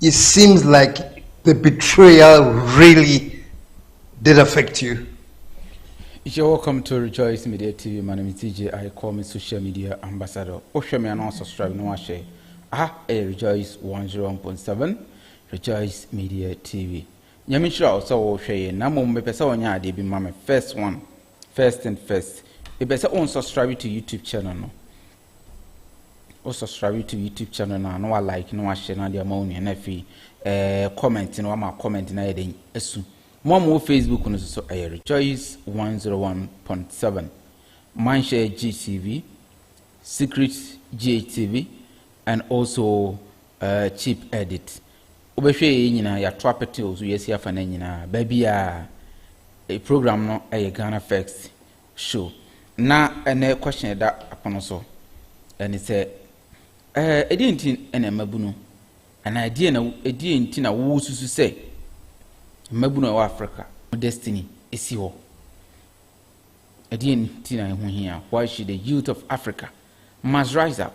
It seems like the betrayal really did affect you. You're welcome to Rejoice Media TV. My name is DJ I call me social media ambassador. Osha me announce subscribe no ashe. Ah, eh, Rejoice 101.7 Rejoice Media TV. Nyame nhyira wo sɛ wohwɛ yɛ na mmom mepɛ sɛ ɔnyɛ adeɛ bi ma me first one first and first mepɛ sɛ wo subscribe to youtube channel no Wo subscribe to YouTube channel na na wa like na wa share na de ama wo nua na afei eh, comment na wama comment na yɛ den asu. Mo a mowɔ Facebook no so so ɛyɛ Rejoice 101.7 Manhyɛ GTV, Secret GHTV and also uh, Cheap Edit. Wobɛhwɛ yɛ nyinaa yɛato apete o so yɛasi afa no nyinaa baabi a eh, program no ɛyɛ Ghana First show na ɛnɛ question ɛda apono so ɛne sɛ ɛɛ ɛdeɛ nti ɛna mmabunu anaa ɛdeɛ na ɛdeɛ nti na wo susu sɛ mmabunu a ɛwɔ Africa destiny esi hɔ ɛdeɛ nti na ɛho hia why should the youth of Africa must rise up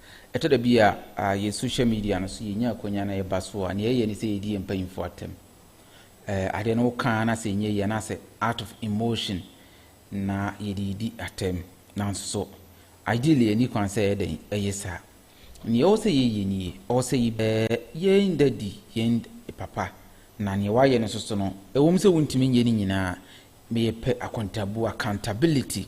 Ɛtɔ da bi a, yɛn social media no so yɛnya akwanya na yɛba so a, nea yɛyɛ ne sɛ yɛdi yɛn mpanyimfoɔ atɛm. Ɛɛ, adeɛ no woka na sɛ ɛnyɛ yie anaasɛ out of emotion na yɛde redi atɛm. Nanso so, ideally ɛnni kwan sɛ yɛyɛ dɛn? Ɛyɛ saa. Nea ɛwɔ sɛ yɛyɛ nie, ɛwɔ sɛ yɛbɛ yɛn dadi, yɛn papa, na nea wayɛ no nso so no, ɛwom sɛ wontumi nyɛ ne nyinaa, meyɛ pɛ akontabuo, accountability.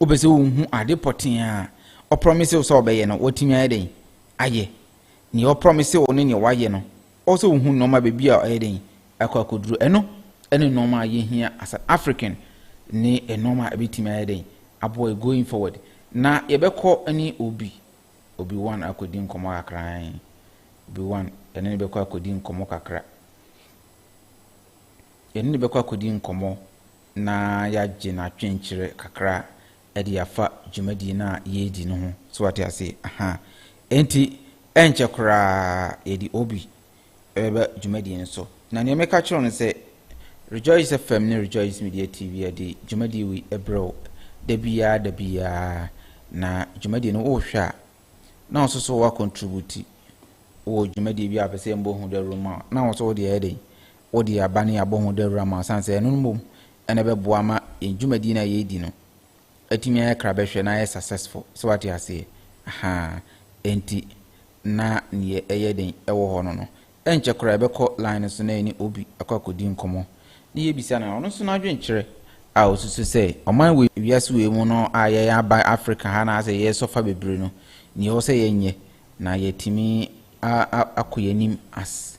Wopɛ sɛ wuhu ade pɔtee a ɔprɔmise wo sɛ ɔbɛyɛ no, watumi ayɛ dɛn ayɛ? Nea ɔprɔmise wo ne nea wayɛ no, ɔwɔ sɛ wuhu nneɛma baabi a ɔyɛ dɛn akɔ akoduru. Ɛno ne nneɛma a yehia as an African ne nneɛma a ebetumi ayɛ dɛn aboa yɛn going forward. Na yɛbɛkɔ ne Obi, Obi One akɔdi nkɔmmɔ kakra. Obi One, yɛne no bɛkɔ akɔdi nkɔmmɔ kakra. Yɛne no bɛkɔ akɔdi nkɔmmɔ na yɛagye no atwenkyerɛ kakra de afa dwumadie no a yɛredi no ho. So wate aseɛ? Ahaa. Enti, ɛnkyɛ koraa yɛde Obi bɛba dwumadie no so. Na nea meka kyerɛ wo no sɛ, Rejoice FM ne Rejoice Media TV de dwumadie wei brɛ wo da biara da biara, na dwumadie no wohwɛ a, na wo nso so woakɔntrubuti wɔ dwumadie bi a wopɛ sɛ yɛmmɔ ho dawuro ma wo, na wo nso wode ayɛ dɛn? Wode aba ne abɔ ho dawuru ama wo sane sɛ ɛno no mmom na ɛbɛboa ama yɛn dwumadie no a yɛredi no atumi ayɛ krabɛhwɛ na ayɛ successful. So wate aseɛ? Ahaa. Enti na neɛ ɛyɛ den wɔ hɔ no no, ɛnkyɛ koraa yɛbɛkɔ line no so na yɛne obi akɔ akɔdi nkɔmmɔ, na yɛbisa no ɔno nso n'adwenkyerɛ a ɔsusu sɛ ɔman wei, wiase wei mu no a yɛn aba Africa ha anaasɛ yɛresɔfa bebree no, neɛ ɛwɔ sɛ yɛnyɛ na yɛatumi akɔ yɛn anim as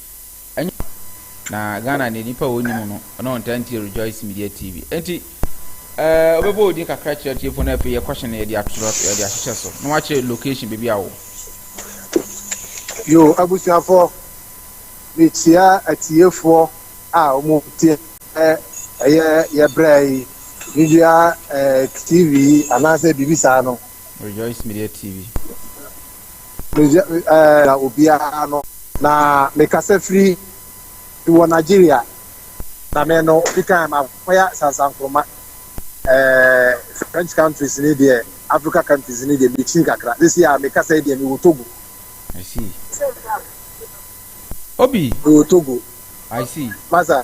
Ɛnyɛ papa. Na Ghana deɛ nipa a ɔnim no na ɔntaa ntie Rejoice Media TV. Enti ɛɛ ɔbɛbɔ odin kakra kyerɛ tiefo na afei yɛkɔhyɛ no yɛde atorɔ yɛde ahyehyɛ so na wakyerɛ location baabi a wɔ. Yo abusuafoɔ mekyia atiefoɔ a wɔn tie ɛyɛ yɛbrɛ yi media TV anaasɛ biribi saa no. Rejoice Media TV. Meya eh, obiara no na mekasa firi wɔ Nigeria na me no obi kan makɔya sansankoroma eh, French countries ni deɛ Africa countries ni deɛ mekyin kakra sisi a mekasa yi deɛ mewɔ Togo. I see. Obi. Mewɔ Togo. I see. Masa.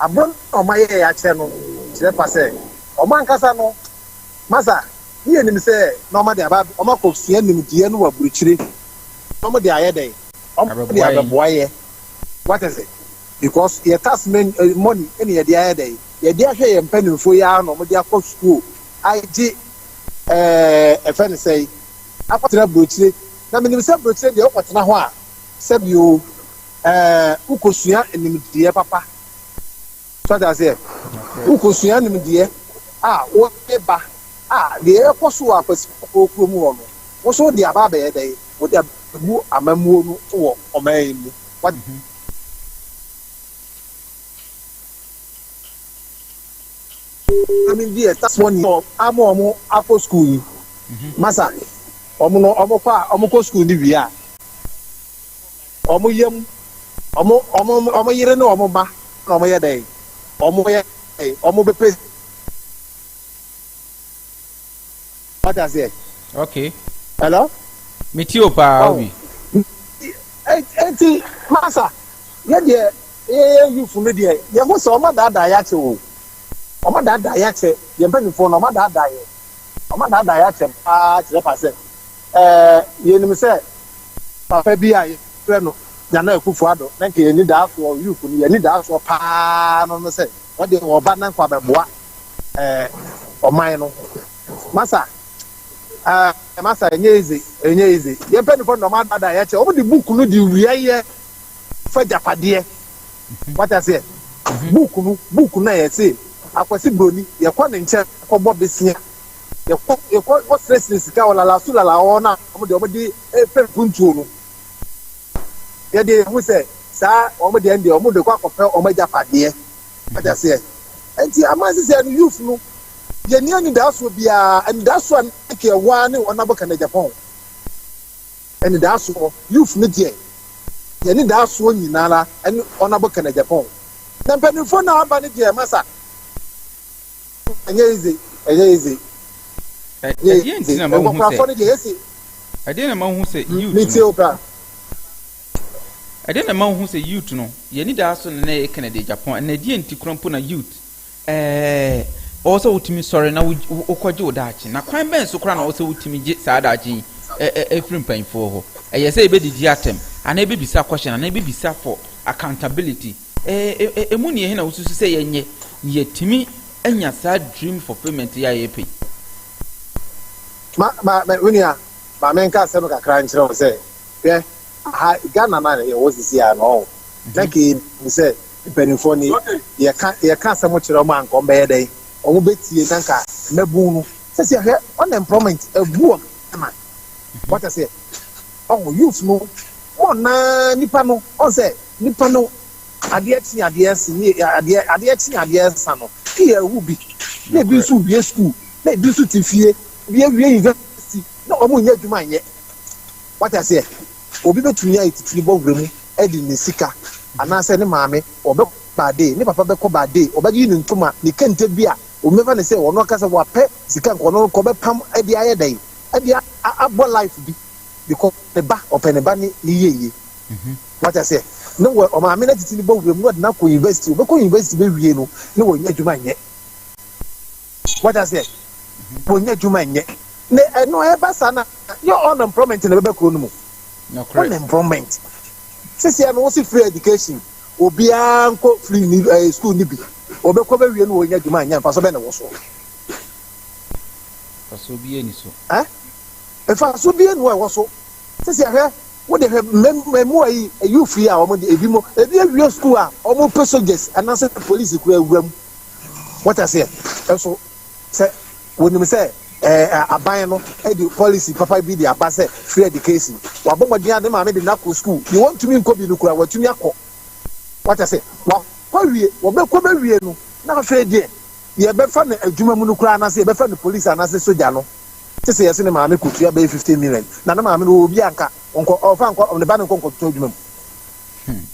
abom na wɔayɛɛ akyerɛ no kyerɛ pa sɛ wɔn ankasa no Masa ne yɛnim sɛ na wɔde aba wɔakɔsua nimdeɛ no wɔ aburukyire na wɔde ayɛ dɛn? wɔde abɛboa yɛ wate ase because yɛ tax men money na yɛde ayɛ dɛn? yɛde ahwɛ yɛn mpanimfoɔ yi ara na wɔde akɔ sukuu agye ɛɛ ɛfɛ ne sɛe akɔtena aburukyire na menim sɛ aburukyire deɛ wokɔtena hɔ a sɛbi o Ɛɛ, wokosua nimdeɛ papa. So ate aseɛ? Wokosua nimdeɛ a, wode ba a, deɛ ɛrekɔ so wɔ Akwasifoɔ kurom hɔ no, wo nso wode aba abɛyɛ dɛn? Wode abɛgu amammuo no so wɔ ɔman yi mu. Wate? Maame bi a ɛtase wɔn ni ama wɔn akɔ sukuu yi. Masa, wɔn no, wɔkɔ a, wɔkɔ sukuu no wie a, Wɔn yam, wɔn, wɔn, wɔn yere ne wɔn mma na wɔyɛ dɛn? Wɔyɛ dɛn? Wɔbɛpɛ. Wate aseɛ? Okay. Hello? Meti o paa, Obi. Eti, masa, yɛ deɛ, yɛyɛ yufu no deɛ, yɛ ho sɛ wɔn daadaa yɛ akyɛ o. Wɔn daadaa yɛ akyɛ, yɛn mpanimfoɔ no, wɔn daadaa yɛ. Wɔn daadaa yɛ akyɛ paa kyerɛ pa sɛ, Ɛɛ, yenim sɛ papa bi a yɛfrɛ no Nana Akufo-Addo, na nka yɛn anidaasoɔ, Youth no, yɛn anidaasoɔ pa ara no ne sɛ ɔde ɔba na nka wabɛboa ɛɛ ɔman no. Masa, ɛɛ Masa, ɛnyɛ easy, ɛnyɛ easy. Yɛn mpanimfoɔ no deɛ wɔadaadaa yɛn kyɛ, wɔde book no de wiaeɛ fa agyapadeɛ. Wate aseɛ? Book no, book no a yɛse Akwasi Broni, yɛkɔ ne nkyɛn kɔbɔ besia. yɛkɔ yɛkɔ kɔsrɛsrɛ sika wɔ lalaso lala hɔ na wɔn deɛ wɔde repɛ mpuntuo no yɛde yɛn ho sɛ saa wɔn deɛ deɛ wɔn de kɔ akɔpɛ wɔn agyapadeɛ adaseɛ nti ama sisɛ no youth no yɛni anidasoɔ biara anidasoɔ a nike ɛwɔ a ne wɔn abɔ kana japan anidasoɔ youth no deɛ yɛn anidasoɔ nyinara ɛne wɔn abɔ kana japan na mpanimfoɔ na aba no deɛ masa. Ɛnyɛ easy, ɛnyɛ easy. Ɛdeɛ nti na ma wohu sɛ ɛdeɛ na ma wohu sɛ youth no ɛdeɛ na ma wohu sɛ youth no yɛn ni daa so na na yɛ Kennedy Japan ɛna ɛdeɛ nti kura mpo na youth ɛɛ ɔwɔ sɛ wotumi sɔre na wokɔgye wo daakye na kwan bɛn so kora na ɔwɔ sɛ wotumi gye saa daakye yi ɛfiri mpanyinfoɔ hɔ ɛyɛ sɛ yɛbɛdidi atɛm anaa yɛbɛbisa question anaa yɛbɛbisa for accountability Emu nea hena wususu sɛ yɛnyɛ na yɛatumi anya saa dream fulfillment yi a yɛrepɛ yi? Ma, ma, ma, me nua, ma menka asɛm kakra nkyerɛ wo sɛ, hwɛ, aha, Ghana no a yɛwɔ seesei ara no, ɔho, na ka yɛnim sɛ mpanimfoɔ no ye. Yɛka, yɛka asɛm kyerɛ wɔn a anka wɔbɛyɛ dɛn? Wɔbɛtie, na anka mmabunu no. Seesei hwɛ, unemployment abu wɔn. man. Wate aseɛ? Ɔho, youth no, mo na nipa no, ɔn sɛ, nipa no, adeɛ kye adeɛ se, ne adeɛ, adeɛ kye adeɛ sa no, pii awu bi, na ebi nso wie school, na ebi nso te fie, ebi awie university, na wɔn nyɛ adwuma nyɛ. Wate aseɛ? Obi bɛtumi ayɛ titiri bɔ wura mu de ne sika, anaasɛ ne maame, ɔbɛkɔ baadee, ne papa bɛkɔ baadee, ɔbɛyi ne ntoma, ne kente bi a Obi bɛfa no sɛ ɔno ankasa wapɛ sika nka ɔno nka ɔbɛpam de ayɛ dɛn, de abɔ life bi because ne ba, ɔpɛ ne ba ne ne yieyie. Wate aseɛ? Ne wɔ ɔmaame no atete no bɔ wuram na ɔde no akɔ university, ɔbɛkɔ university bɛwie no na wɔnya adwuma nyɛ. Wate aseɛ? Wɔnya adwuma nyɛ. Na ɛno ɛba saa na yɛ unemployment na ɛbɛba kuro no mu. Unemployment. Sisi ɛno wosi free education. Obiara nkɔ firi ni ɛɛ sukuu ni bi. Wɔbɛkɔ bɛwie no wɔnya adwuma anya mfaso bɛn na ɛwɔ soɔ? Mfasoɔ biara ni so. Ɛ? Mfaso biara ni hɔ ɛwɔ so. Sisi ahwɛ wode hwɛ mmɛmmoa yi ɛyuu firi a wɔn de ebi mo ebi awie sukuu a wɔn pɛ soldiers anaasɛ polisi kura wura mu. Wɔte aseɛ? Ɛso. Sɛ wɔnim sɛ aban no de policy papa bi de aba sɛ free education, wabɔ mmɔden a ne maame de no akɔ sukuu, deɛ ɔntumi nkɔ bi no koraa watumi akɔ. Wate ase? Wakɔ awie, wɔbɛkɔ bɛwie no, na afei deɛ yɛbɛfa no adwuma mu no koraa anaasɛ yɛbɛfa no police anaasɛ sogya no, gye sɛ yɛse ne maame kɔtua bɛyɛ fifteen million, na ne maame no ɔwɔ obi a nka ɔnkɔ, ɔmfa nkɔ, ne ba no nkɔ nkɔtotɔ adwuma mu. Hmm.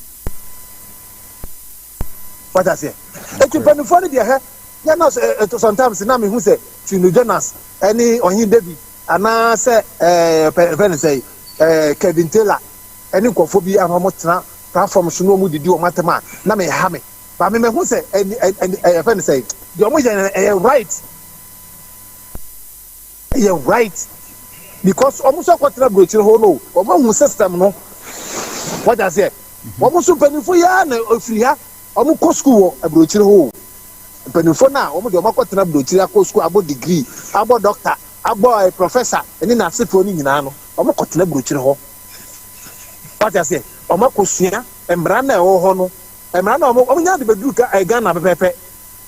Wate aseɛ? Eti mpanimfoɔ no deɛ hɛ, yɛ na sɛ ɛto sometimes na mehu sɛ Tino Jonas ɛne Ɔhene David anaa sɛ ɛɛ pɛ ɛfɛ ne sɛ ɛɛ Kevin Taylor ɛne nkurɔfoɔ bi anaa wɔn tena platform so na wɔn didi wɔn atɛm a na me ha me ba me mehu sɛ ɛni ɛni ɛɛ ɛfɛ ne sɛ deɛ wɔn yɛ no ɛyɛ right. yɛ right because wɔn nso akɔtena aburokyire hɔ no wɔn ahu system no wɔde aseɛ wɔn nso mpanyinfo yi ara na efiri ha wɔn kɔ sukuu wɔ aburokyire hɔ o mpanyinfo na wɔn deɛ wɔn akɔtena aburokyire akɔ sukuu abɔ degree abɔ doctor abɔ ɛɛ eh, professor ɛne n'asefoɔ no nyinaa no wɔn kɔtena aburokyire hɔ wɔde aseɛ wɔn akɔsua mmara na ɛwɔ hɔ no mmara na wɔn wɔn nya de bɛduru eh, Ghana pɛpɛpɛ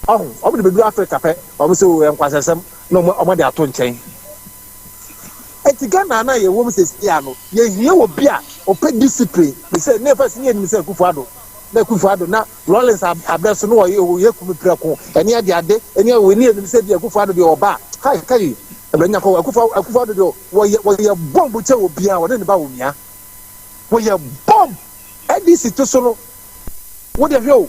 Ɔho, wɔn de bɛduru Africa pɛ, wɔn sɛ oo nkwansɛsɛm na wɔn wɔde ato nkyɛn. Eti Ghana na yɛwɔ mu sɛsi a no, yɛhia obi a ɔpɛ discipline, te sɛ ne yɛfɛ sɛ ne yɛnim sɛ Akufo Addo, na Akufo Addo na Rawlings abrɛ so no wɔyɛ oo yɛ kumi prɛko, ɛne ade ade, ɛne ade wei, ne yɛnim sɛ bia Akufo Addo deɛ ɔba a, hai kai, ɛbrɛ nya kɔ, Akufo Akufo Addo deɛ wɔyɛ wɔyɛ bomb kyɛ obiara, wɔne ne ba wɔ mia, wɔyɛ bomb, NDC to so no, wo deɛ hwɛ oo.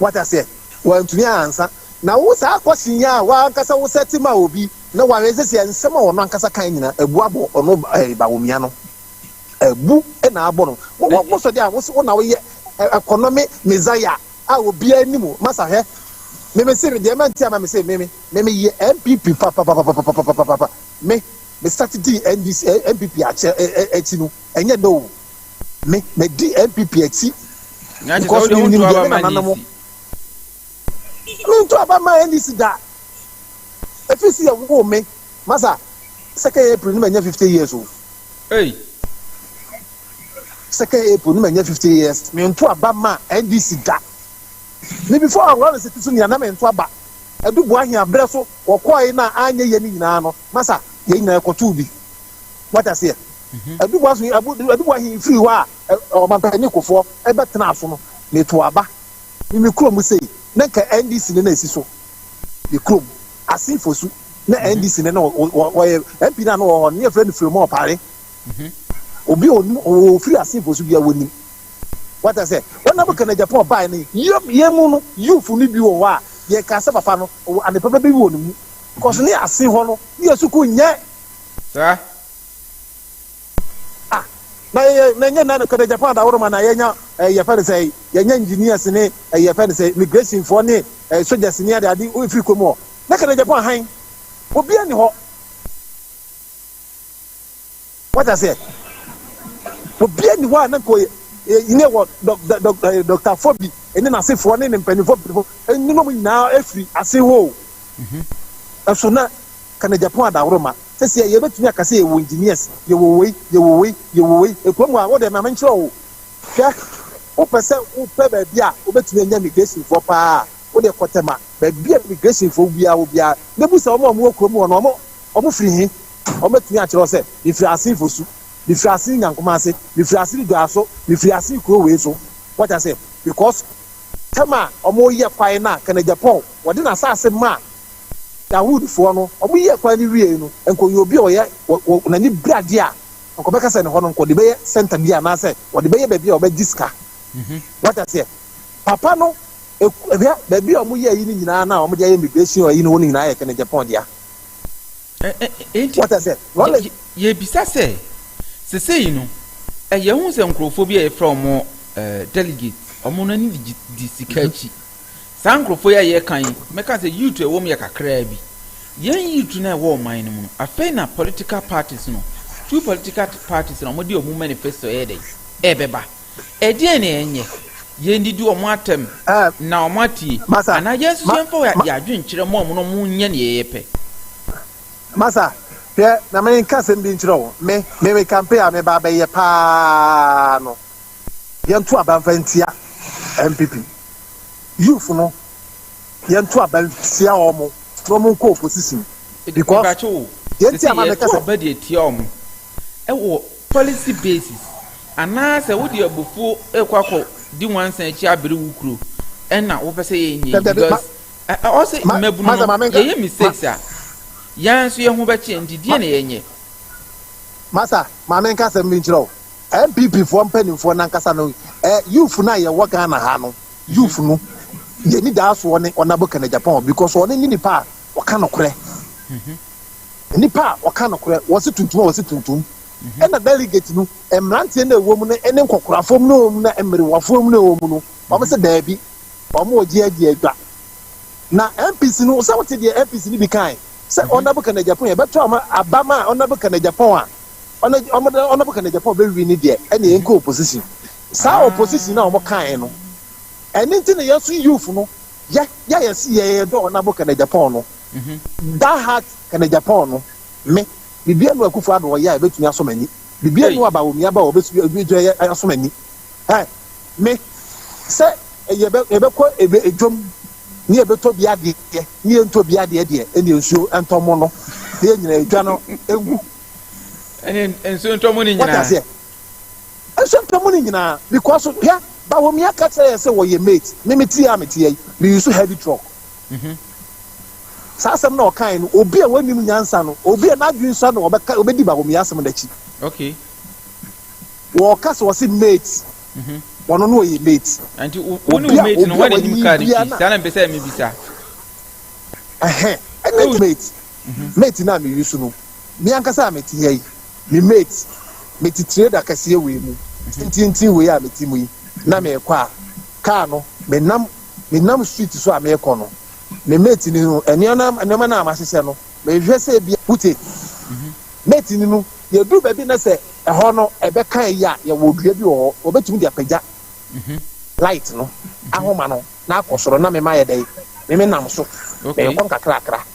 Wate aseɛ? Wantumi ansa. Na wo saa question yi a w'ankasa wo set ma obi na w'ahwɛ seesei a nsɛm a ɔno ankasa kae nyinaa abu abɔ ɔno ɛɛ Bawumia no. Abu na abɔ no. Wo wo wo sɔ deɛ a wo se wo na wo yɛ ɛ ɛkɔnɔme Messiah a obiara nni mu. Masa hwɛ. Me me se deɛ manti ama me se me me me me yɛ NPP papapapapapapapapapa. Me me start dii NDC ɛ NPP akyɛ ɛ ɛ akyi no ɛnyɛ nnɛ oo. me me di npp akyi because mi nim deɛ mi nana no mo mi ntu aba ma ndc da efi si yɛ wo me masa second april ni ma nya fifty years o second april ni ma nya fifty years mi ntu aba ma ndc da mi before awurɔ si ti so nìyà na mi ntu aba edu bu ahin abirɛ so wɔkɔɔ yi na anya yɛ ni nyinaa no masa yɛ nyinaa ɛkɔtu bi wata seɛ. Aduboa so aduboa he firi hɔ a ɔmampanin kofoɔ bɛtenaa so no, meto aba ne me kurom sei na nka NDC ne na esi so me kurom ase fosu na NDC ne na wɔyɛ MP na no wɔ hɔ ne yɛfrɛ no Filemon Ɔpare obi a onim ofiri ase fosu bia wɔnim wata sɛ wɔnam bɛka na Japan ɔbae ne yɛ mu no yufu no bi wɔ hɔ a yɛka sɛ papa no adepa bɛbi wɔ ne mu kɔso ne ase hɔ no ne yɛ sukuu nyɛ saa Ah, na yɛ na ɛnyɛ nna no kɛdɛ Japan dawɔrɔma na yɛnya ɛɛ yɛfɛ no sɛ yɛnya engineers ne ɛɛ yɛfɛ no sɛ immigration foɔ ne ɛɛ soldiers ne ade ade efiri kurom hɔ na kɛdɛ Japan hann obiara nni hɔ wate aseɛ obiara nni hɔ a na nka ɔyɛ yɛ wɔ dɔk dɔk dɔk ɛɛ dɔktafoɔ bi ne n'asefoɔ ne ne mpanimfoɔ mpanimfoɔ ne nom nyinaa efiri ase hoo ɛso na kɛdɛ Japan dawɔrɔma. Sɛsɛ yɛbɛtumi aka sɛ yɛwɔ engineers, yɛwɔ wei, yɛwɔ wei, yɛwɔ wei, ɛkwan mu a, wode ma menkyerɛ wo, hwɛ, wopɛ sɛ wopɛ baabi a wobɛtumi anya migrationfoɔ pa ara a, wodeɛ kɔ Tema, baabi a migrationfoɔ biara wɔ biara, na bisa wɔn a wɔwɔ kurom hɔ no, wɔn, wɔn firi he? Wɔn bɛtumi akyerɛ wo sɛ, mefiri Assin Fosu, mefiri Assin Nyankomase, mefiri Assin Dwaso, mefiri Assin kuro wei so, wate aseɛ, because Tema a wɔyɛ kwan no a, Kanaja Paul, Wɔde n'asase maa Yahoudfoɔ no, wɔyɛɛ kwan no wiei no, anka ɔyɛ obi a ɔyɛ wɔ wɔ n'anibradeɛ a, anka ɔbɛka sɛ ne hɔ no, anka ɔde bɛyɛ center bi anaasɛ ɔde bɛyɛ baabi a ɔbɛgye sika. Wate aseɛ? Papa no, ɛku, hwɛ, baabi a wɔyɛ ayi no nyinaa na wɔde ayɛ immigration ayi no hɔ no nyinaa yɛ Kennedy Agyapong dea. Ɛ, ɛ, enti, Wate aseɛ? yɛ, Lɔle, yɛ, yɛrebisa sɛ, sesei no, ɛ, yɛahu sɛ nkorɔfoɔ bi a yɛfrɛ wɔn, ɛ, delegate, wɔn no ani di, di sika akyi. Saa nkurɔfoɔ yi a yɛreka yi, mɛka sɛ yield a ɛwɔ mu yɛ kakraa bi. Yɛn yield no a ɛwɔ ɔman no mu no, afei na political parties no, two political parties na wɔde wɔn manifesto ɛyɛ dɛn? Ɛbɛba. Ɛdeɛn na yɛnyɛ? Yɛndidi wɔn atɛm na wɔn atie? Anaa yɛn nso yɛmfa yɛn adwene nkyerɛ wɔn na wɔnyɛ deɛ yɛpɛ? Masa, hwɛ na menka asɛm bi nkyerɛ wo. Me, me, me campaign a meba abɛyɛ paa no, yɛnto aba mfa ntia NPP. youth no yɛn to aba tia wɔn na wɔn nkɔ opposition because yɛn ti ama mi kasa. yɛn to aba deɛ tia wɔn ɛwɔ policy basis anaasɛ wode abufuo ɛkɔ akɔ di nwansa akyi abere wo kuro ɛna wopɛ sɛ yɛn nyɛ because ɔsɛ mmabunu no yɛyɛ mistakes a yɛn nso yɛn ho bɛkye nti deɛ na yɛn nyɛ. masa maame nkasa mi nkyerɛw. NPP foɔ mpaninfoɔ no ankasa no eh, youth no a yɛwɔ Ghana ha no, youth no yɛni daa soɔ ne Ɔnabo Kɛnɛ Japan because ɔno ne nipa a ɔka nokorɛ nipa a ɔka nokorɛ wɔse tuntum a wɔse tuntum ɛna delegate no mmeranteɛ no ɛwɔ mu no ne nkɔkorafoɔ mu no ɛwɔ mu na mmerewafoɔ mu no ɛwɔ mu no wɔn sɛ daabi wɔn wɔ gye agye adwa na MPC no sɛ wote deɛ MPC no bi kan sɛ Ɔnabo Kɛnɛ Japan yɛbɛto ama abama Ɔnabo Kɛnɛ Japan a ɔno ɔmo de ɔno bɛka ne japan ɔbɛwi ne deɛ ɛne yɛn kɔ opposition saa ah. opposition na ɔmo kan no ɛne nti na yɛn so youth no yɛ yɛ yɛ si yɛ yɛ dɔɔ na bɔ ka ne japan no mhm. that heart ka ne japan no me bibi enu akufo ado ɔyɛ a ebetumi asɔ m'ani bibi enu aba omi aba ɔbɛsu ebi gyina yɛ asɔ m'ani ɛ me sɛ ɛyɛ bɛ ɛbɛ kɔ ɛbɛ edwom ne yɛ bɛ tɔ bi adeɛ ne yɛ ntɔ bi adeɛ deɛ ɛne nsuo ɛntɔmo no ne yɛ nyina edwa no egu. ɛne nsuo ntɔ mu no nyinaa. wata aseɛ nsuo ntɔ mu no nyinaa because hwɛ bawomia ka kyerɛ yɛ sɛ wɔyɛ mate me me tie a me tie yi me use heavy truck mhm. saa asɛm na ɔkae no obi a wɔnim nyansa no obi a n'adwene sua no ɔbɛka ɔbɛdi bawomia asɛm n'akyi okay wɔka sɛ wɔse mate mhm. wɔno no ɔyɛ mate nti wo ne wo mate no wɔn anim kaa ne ti saa na mpɛ sɛ mebisa ɛhɛ ɛne mate Mate no a me use no, me ankasa a me te ha yi, me mate, me te tireda kɛseɛ wei mu, tententen wei a me te mu yi, na me rekɔ a, car no, me nam, me nam street so a me rekɔ no, me mate no no, nneɛma, nneɛma no a mahyehyɛ no, me hwɛ sɛ bi a, wote? Mate no no, yɛ duru baabi na sɛ ɛhɔ no, ɛbɛ ka yi a, yɛ wɔ dua bi wɔ hɔ, wɔ bɛ tumi de apagya light no, ahoma no, na akɔ soro, na me ma yɛ dɛn? Me me nam so, me rekɔ nkakrakra.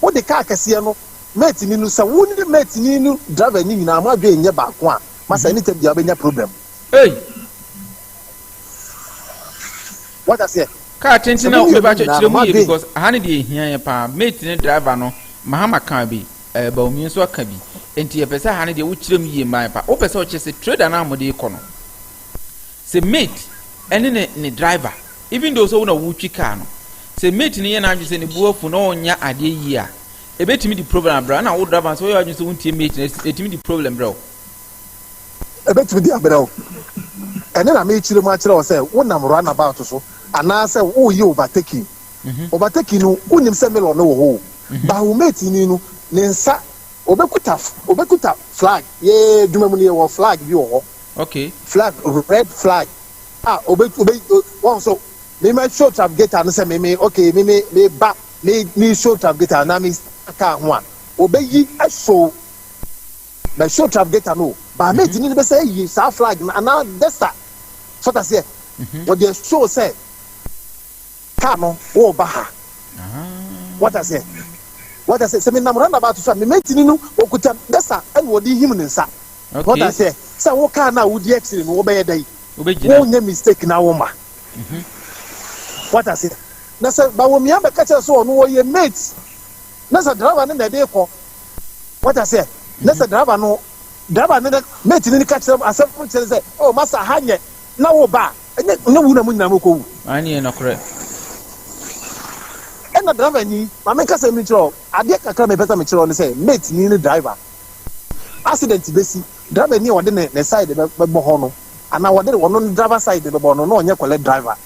wode kaa kɛseɛ no mate ni no sɛ wo ne mate ni no driver ni nyinaa mo adwene nyɛ baako a masa mhm. anytime bia wobɛnya problem Hey. Wata seɛ. Kaa tenten na obi ba kyerɛ mu yie because aha ne deɛ ehia yɛ paa mate ne driver no mahama kan bi ɛɛ eh, baomie nso aka bi nti yɛpɛ sɛ aha ne deɛ wokyerɛ mu yie maa yɛ paa wopɛ sɛ ɔkyɛ sɛ trader no a wɔde kɔ no sɛ mate ɛne ne ne driver. Even though sɛ wo na wotwi car no, sɛ mate no yɛ n'adwene sɛ ne bo afu na ɔnnyɛ adeɛ yie a, ɛbɛtumi de problem abrɛ wo. Ɛna wo driver no sɛ woyɛ w'adwene sɛ wontie mate no a, ɛtumi de problem brɛ wo. Ɛbɛtumi de abrɛ wo. Ɛno na merekyerɛ mu akyerɛ wo sɛ wonam runabout so anaasɛ woreyɛ overtaking. Overtaking no, wonnim sɛ mirror no wɔ hɔ o, but wo mate ni no, ne nsa Obekuta obekuta flag yee dwuma mu no yɛ wɔ flag bi wɔ hɔ. Okay. Flag red flag a obe obe wɔn so me ma show travigator no sɛ me me okay me me me ba me me show travigator na me kaa ho a obeyi show na show travigator no ba me tini no bɛ sɛ yi saa flag no anaa desta sɔtaseɛ wɔde show sɛ. Car no wo ba ha wata sɛ wata sɛ sɛ mi nam randa ba to so a mi mɛntini no okuta dasa ɛna ɔde him ne nsa wata sɛ sɛ wo car no a wodi akyire no wobɛyɛ dɛ yi wo nyɛ mistake na wo ma mhm. wata sɛ na sɛ bawomia bɛka kyerɛ sɛ ɔno ɔyɛ mate na sɛ driver no na ɛde kɔ wata sɛ na sɛ mhm. driver no driver no mate no ka kyerɛ asɛm kyerɛ sɛ oh masa ha nyɛ na woreba a, ɛnyɛ wu na mo nyinaa mokɔwu. W'ani yɛ nɔkorɛ. Ɛna driver ni, ma me nkasɛm bi nkyerɛ wo, adeɛ kakra a mepɛ sɛ mekyerɛ wo ne sɛ, mate ni ne driver, accident bɛsi, driver ni a ɔde ne ne side bɛbɔ hɔ no, anaa ɔde ɔno ne driver side bɛbɔ no, na ɔnyɛ kɔlɛ driver.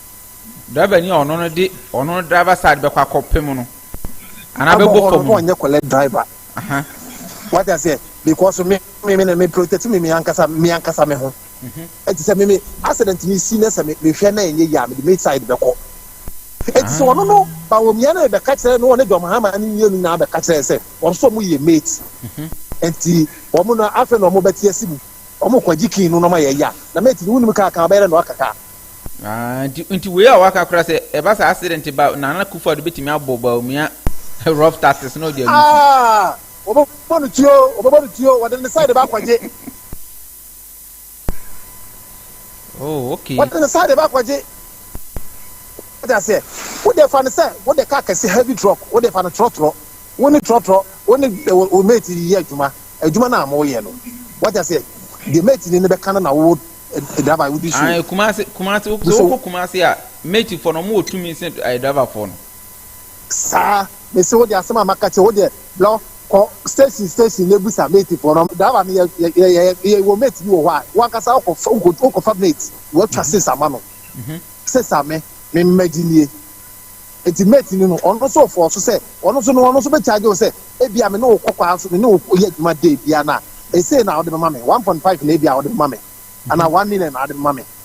Driver ni a ɔno no de ɔno no driver side bɛkɔ akɔ pem no, anaa bɛbɔ fam no. Ɔnyɛ kɔlɛ driver. Wate aseɛ? Because me, me, me, me protect me, me ankasa, me ankasa me ho. Enti sɛ me me accident no si na sɛ me mehwɛ na ɛnyɛ yie a mede maid side bɛkɔ. Enti sɛ ɔno no Bawumia no rebɛka kyerɛ no ɔne John Mahama ne mmienu nyinaa bɛka kyerɛ sɛ wɔn nso wɔn yɛ mate. Enti wɔn no afei na wɔn bɛte asi mu. Wɔn kɔ gye king no na wɔn ayɛ ya. Na mate no wonim kaa kan ɔbɛyɛ dɛ na waka kaa. Ah, nti nti wei a waka kora sɛ ɛba sɛ accident ba Nana Akufo-Addo bɛtumi abɔ Bawumia rough taxes na ɔde ayi fi. Ah, wɔbɛbɔ no tuo, wɔbɛbɔ no tuo, wɔde ne side ba akɔgye. Oh, okay. What is the side about kwaje? What I say? What the fan say? What the car can see heavy truck? What the fan a truck truck? What the truck truck? What the o mate ye juma? A juma na mo ye no. What I say? The mate ni nebe kana na wo driver wo di so. Ah, kumase kumase so ko kumase a mate for no mo tumi se driver for no. Saa, mese wo deɛ asɛm a maka kyerɛ wo deɛ lɔ kɔ station station na bisa mate foɔ no driver no yɛ yɛ yɛ yɛ yɛ wɔ mate bi wɔ hɔ a wankasa wokɔ fa wokɔ wokɔ fa mate watwa six ama no six ame me mma gyi nie nti mate no no ɔno nso fɔɔ so sɛ ɔno nso no ɔno nso bɛ charge wo sɛ ebi a me ne wo kɔ kwaa so me ne wo yɛ adwuma day bia na esei na ɔde bɛma me one point five na ebi a ɔde bɛma me ana one million na ɔde bɛma me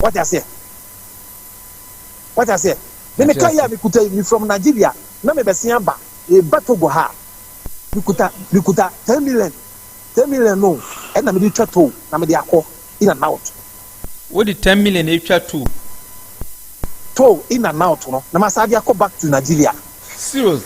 Wate aseɛ? Wate aseɛ? Me me car yi a me kuta yi, me from Nigeria, na me bɛsen aba, reba Togo ha a, me kuta, me kuta ten million, ten million no ɛna me de retwa toll na me de akɔ, in and out. Wo de ten million retwa toll? Toll in and out no, na ma san de akɔ back to Nigeria. Serious?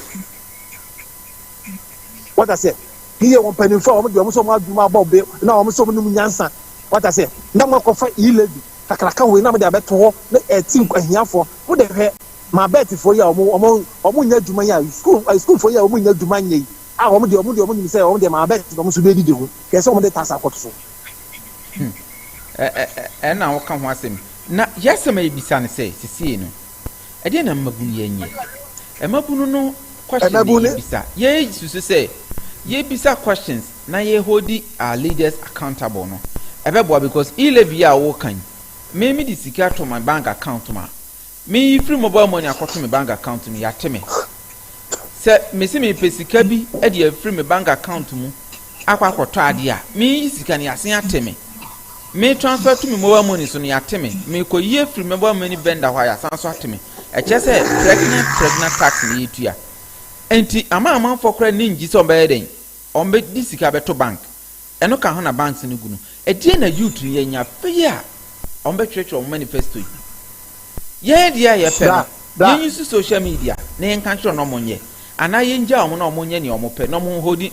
wata sɛ ne yɛ wɔn mpanimfoɔ a wɔn deɛ wɔn sɛ wɔn adwuma abɔ be na wɔn sɛ wɔn num nyansa wata sɛ na mo akɔfa iyi lady kakraka wei na mo de abɛto hɔ na ɛti nk ahiafoɔ mo de hwɛ ma bɛɛtifoɔ yi a wɔn wɔn wɔn nyɛ adwuma yi a sukuu sukuufoɔ yi a wɔn nyɛ adwuma nyɛ yi a wɔn deɛ wɔn deɛ wɔn nim sɛ wɔn deɛ ma bɛɛti na wɔn nso bɛdidi ho kɛse sɛ wɔn de taasa akɔto so. Hmm. Ɛna woka ho asɛm na yɛasɛm a yɛbisa no sɛ sesei no Ɛdeɛn na mmabunu yɛ nyɛ? Mmabunu no question ne yɛbisa. Yɛyɛ susu sɛ yɛbisa questions na yɛ hold our leaders accountable no ɛbɛboa because e-levy a wɔka yi me me de sika to my bank account ma me yi free mobile money akɔto me bank account mu yɛate me sɛ me se mepɛ sika bi de afiri me bank account mu akɔ akɔtɔ adeɛ a, meyi sika no yɛasen ate me. Me transfer to me mobile money so no yɛate me. Mekɔyi afiri mobile money vendor hɔ a yɛasan nso ate me. Ɛkyerɛ sɛ pregnant pregnant tax na yɛtua. Enti ama amanfoɔ koraa ani ngye sɛ wɔbɛyɛ dɛn? Wɔbɛde sika bɛto bank. Ɛno ka ho na banks no gu no. Ɛdeɛn na youth no yɛanya afei a wɔbɛtwerɛtwerɛ wɔn manifesto yi? Yɛn adeɛ a yɛpɛ no, yɛn use social media na yɛnka nkyerɛ wɔn na wɔnyɛ anaa yɛngyaa wɔn na wɔnyɛ deɛ wɔpɛ na wɔnhodi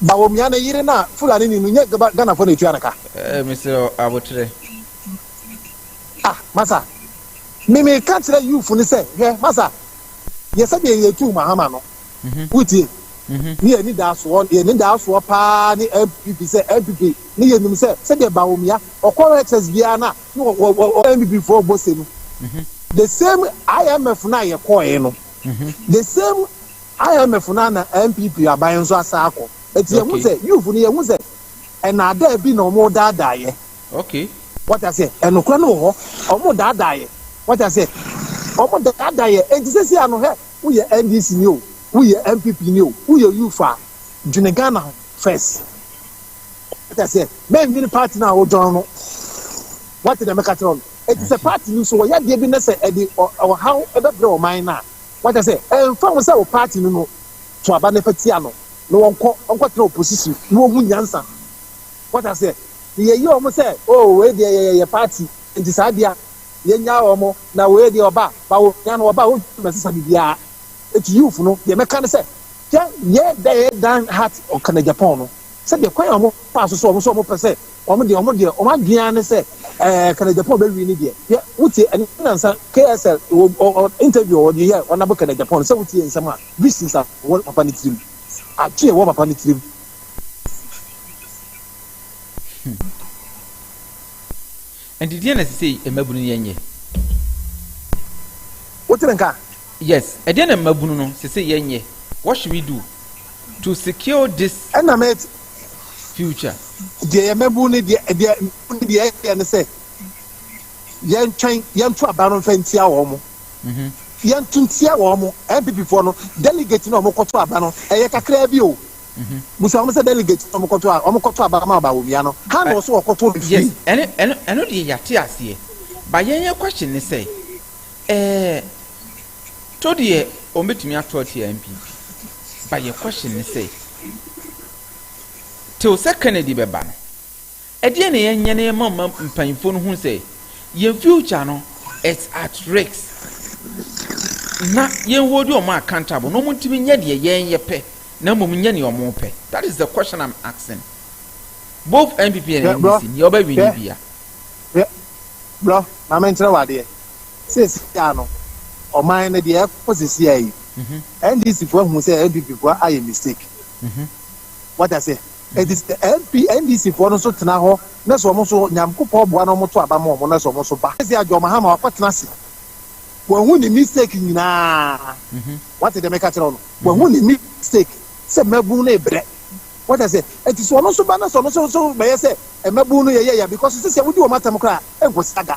Bawumia ne yere no a Fulani ni no nyɛ Ghanafoɔ na ɛtua no ka? Eh, mesrɛ wo aboterɛ. Ah, masa, me meka kyerɛ youth no sɛ, hwɛ, masa, yɛ sɛdeɛ yɛtuu Mahama no, mhm. wotie? Mhm. Ne yɛni daa soɔ, yɛni daa soɔ paa ne NPP sɛ NPP ne yɛnim sɛ sɛdeɛ Bawumia ɔkɔ HS biara no a ne NPP foɔ bɔ se no, mhm. the same IMF no a yɛkɔɔɛ no, the same IMF na na NPP aban nso asan akɔ eti yɛn ho sɛ youth no yɛn ho sɛ ɛnaadaa bi na wɔn daadaa yɛ. Okay. Wɔte aseɛ ɛnokora no wɔ hɔ wɔn daadaa yɛ wɔte aseɛ wɔn daadaa yɛ eti sisi ano hɛ woyɛ NDC ni o woyɛ NPP ni o woyɛ youth a dwene Ghana ho first wɔte aseɛ mɛnwini party na awodɔn no wɔte deɛ mɛka kyerɛ no. Ɛte sɛ paati no nso, wɔyɛ adeɛ bi na sɛ ɛde ɔhaw bɛbrɛ ɔman no a, wate aseɛ, ɛmfa ho sɛ wo paati no no, to aba no fa tia no na wɔnkɔ, ɔnkɔtena opposition na wɔhu nyansa. Wate aseɛ? Na yɛyi wɔn sɛ, oh, wei deɛ yɛyɛ yɛ paati, nti saa deɛ a, yɛnyaa wɔn, na wei deɛ ɔba, ba wo hia no, ɔba, wo hia no, ɛsesa biribiara. Nti youth no, deɛ mɛka ne sɛ, hwɛ, yɛ, Dan Hart, ɔka no Japan no, sɛdeɛ kwan a wɔfaa so sɛ wɔn nso wɔpɛ sɛ, Wɔn deɛ wɔn deɛ wɔn adwene ara ne sɛ ɛɛ kana Japan bɛwi ne deɛ yɛ wotie ɛne nansa KSL wɔ ɔ interview wɔ deɛ yɛ wɔnabo kana Japan sɛ wotie nsɛm a visions a wɔ papa ne tirim adwene wɔ papa ne tirim. Ɛnti deɛn na ɛsɛ sɛ mmabunu no yɛ nyɛ? Wote me nka? Yes, ɛdeɛn na mmabunu no sɛ sɛ yɛ nyɛ? What should we do to secure this Ɛna mɛte. future? Deɛ yɛ mmabunu no deɛ deɛ mmabunu no deɛ ɛyɛ ne sɛ yɛntwɛn yɛnto aba no mfa ntia wɔn mo. Yɛnto ntia wɔn mo. NPP foɔ no delegate no a wɔkɔto aba no ɛyɛ kakraa bi o. Busa wɔn sɛ delegate na wɔkɔto a wɔkɔto aba ma Bawumia no, ha na ɔso wɔkɔto no fie. Yes, ɛno ɛno ɛno deɛ yɛate aseɛ. Ba yɛn yɛn question ne sɛ, ɛɛ to deɛ wɔn bɛtumi ato atia NPP. Ba yɛ question ne sɛ, till sɛ Kennedy bɛba no, Ɛdeɛn na yɛnyɛ na yɛma ma mpanyinfoɔ no hu sɛ yɛn future no is at risk na yɛn hold wɔn accountable na wɔn ntumi nyɛ deɛ yɛn yɛpɛ na mmom nyɛ deɛ wɔn pɛ? That is the question I'm asking both NPP and NDC nea ɔbɛ win ni bia. Bro, maame nkyerɛ wɔ adeɛ. Sisi a no, ɔman no deɛ ɛkɔ sisi a yi, NDC foɔ ahu sɛ NPP foɔ ayɛ mistake. What I say? Enti sɛ MP, NDC foɔ no nso tena hɔ na sɛ wɔn nso Nyankopɔn boa na wɔn to aba ma wɔn na sɛ wɔn nso ba. Ɛsɛ John Mahama wakɔ tena ase. Wahu ne mistake nyinaa. Wate deɛ meka kyerɛ wo no. Wahu ne mistake sɛ mmabun no rebrɛ. Wate aseɛ. Enti sɛ wɔn nso ba na sɛ wɔn nso nso bɛyɛ sɛ mmabun no yɛyɛ ya because sesia wodi wɔn atɛm koraa ɛnkɔsi ada.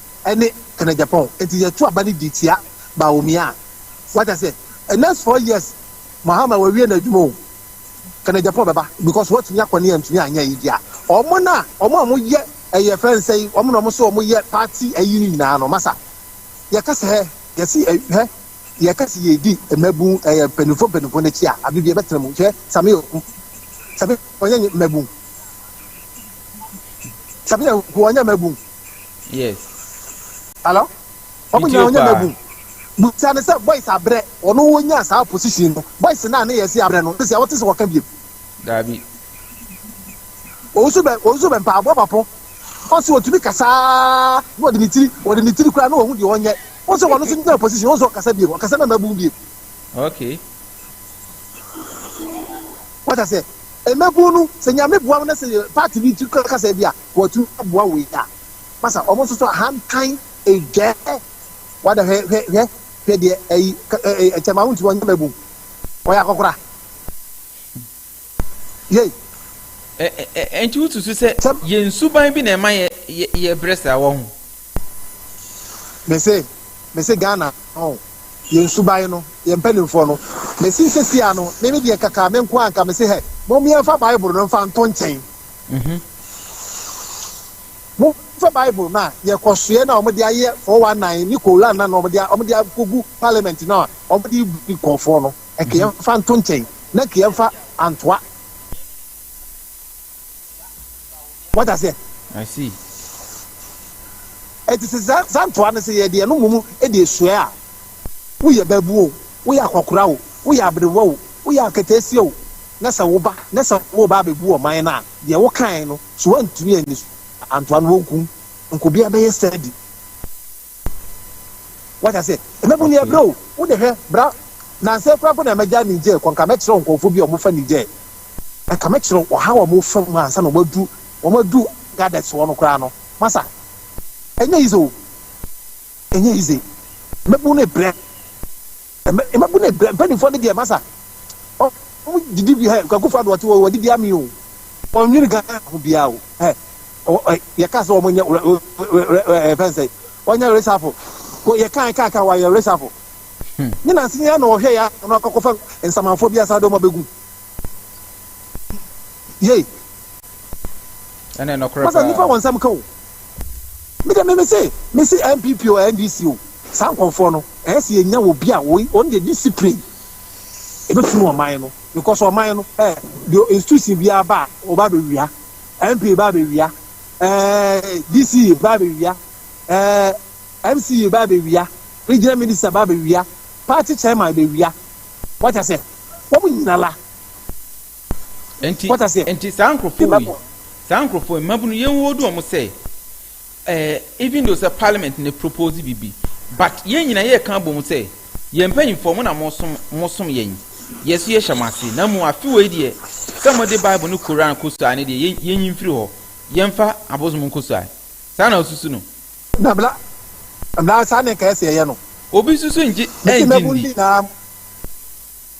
ne Kenneth Gyapong nti yɛto aba no di tia Bawumia a wate aseɛ next four years Mahama wawie n'adwuma o Kenneth Gyapong bɛba because watumi akɔ ne antumi anyɛ ayi deɛ a ɔmo no a ɔmo a ɔmo yɛ ɛyɛ fɛn nsɛn ɔmo na ɔmo sɛ ɔmo yɛ party ayi no nyinaa no masa yɛka sɛ hɛ yɛsi hɛ yɛka sɛ yɛdi mmabun ɛyɛ mpanimfoɔ mpanimfoɔ n'akyi a abe bi ɛbɛtena mu hwɛ Samia Samia ɔnyɛ mmabun Samia ɔnyɛ mmabun yes. Hello? Ɔmo nyinaa ɔnyɛ mmabu. Busa no sɛ boys abrɛ ɔno wonyaa saa position no. Boys no a ne yɛse abrɛ no sɛsia wote sɛ wɔka biom? Daabi. Owusu bɛ owusu bɛ mpaabɔ papo. Ɔse otumi kasa na ɔde ne tiri ɔde ne tiri koraa na ɔhu deɛ ɔnyɛ. Wose wɔno nso nyaa position wose ɔkasa biom ɔkasa na mmabu biom. Okay. Wata sɛ mmabu no sɛ nyame boa wo na sɛ party bi ti kasa bi a. wɔatumi aboa wo yi a, masa wɔn nso so ahantan adwaa wada hwɛ hwɛ hwɛ hwɛ deɛ ayi ɛɛ ɛkyɛ ma wontumi ɔnyɛ mɛbum ɔyɛ akɔkora yei. Ɛ ɛ ɛnti wosusu sɛ yɛn suban bi na ɛma yɛ yɛ yɛbrɛ saa wɔho. Mese mese Ghana ɔn yɛn suban no yɛn mpanimfoɔ no mese sesia no meme deɛ kaka menkoa nka mese hɛ mom yɛnfa bible no nfa nto nkyɛn. Mhm. Momfa Bible no a yɛkɔsoɛ no a wɔde ayɛ 419 ne Koran no a na wɔde wɔde akɔgu parliament no a wɔde rebu nkurɔfoɔ no, ɛka Mhm. yɛmfa nto nkyɛn na ɛka yɛmfa antoa. Wate aseɛ? I see. Ɛnti sɛ saa saa ntoa no sɛ yɛde ɛno mmom de resoɛ a, woyɛ baabun o, woyɛ akɔkora o, woyɛ aberewa o, woyɛ aketeesia o, na sɛ woba na sɛ woreba abɛgu ɔman no a, deɛ wokae no, so woantumi anni so antoa no, wɔnku wo. Nkobea bɛyɛ sɛdi. Wate aseɛ? Mmabunu ni ɛbrɛ o. Wo de hwɛ, bra, nansa yi koraa mpo na mɛgya Niger kɔ, nka mɛkyerɛ wo nkurɔfoɔ bi a wɔfa Niger. Nka mɛkyerɛ wo ɔhaw a wɔfa mu ansa na wɔadu, wɔadu Agadez hɔ no koraa no. Masa, ɛnyɛ easy o. Ɛnyɛ easy. Mmabunu no brɛ. Mmabun ne mpanimfoɔ no deɛ masa wɔn didi bi hɛ kwakufoɔ adoɔte wɔ wɔde di ami o wɔn nwini Ghana ho biara o hɛ yɛka sɛ wɔn nyɛ fɛn sɛ wɔn nyɛ resafo yɛ kan kan kan wɔayɛ resafo ne nansi nyɛ na wɔhwɛ yɛ ano akɔkɔfa nsamanfoɔ bi asan de wɔn abɛgu yei. ɛne nɔkorɛ paa. Masa nipa wɔn nsɛm ka o. Me de me me se me se NPP o NDC o saa nkɔfoɔ no ɛyɛ se yɛ nya obi a woi wɔn deɛ discipline ebe firi ɔman no because ɔman no eh deɛ institution bi aba a ɔba bɛ wia MP ba bɛ wia eh DC ba bɛ wia eh MC ba bɛ wia regional minister ba bɛ wia party chairman bɛ wia wɔn kyɛ sɛ wɔn nyina la. Enti, enti saa nkurɔfoɔ wei, saa nkurɔfoɔ wei, mmabunu, yɛn hold wɔn sɛ, eh, even though sɛ parliament ne propose bibi, but yɛn nyinaa yɛ kan bom sɛ, yɛn mpanyinfoɔ mo na mo som, mo som yɛn, yɛ so yɛ hyɛ mo ase, na mu afi wei deɛ, sɛ mo de bible ne koran kɔ sua ne deɛ, yɛn nyi mfiri hɔ, yɛn fa abosom nkɔ sua, saa na osusu no. Na bla, bla, saa ne nka ɛsɛ yɛyɛ no. Obi susu ngye, ɛngye ndi.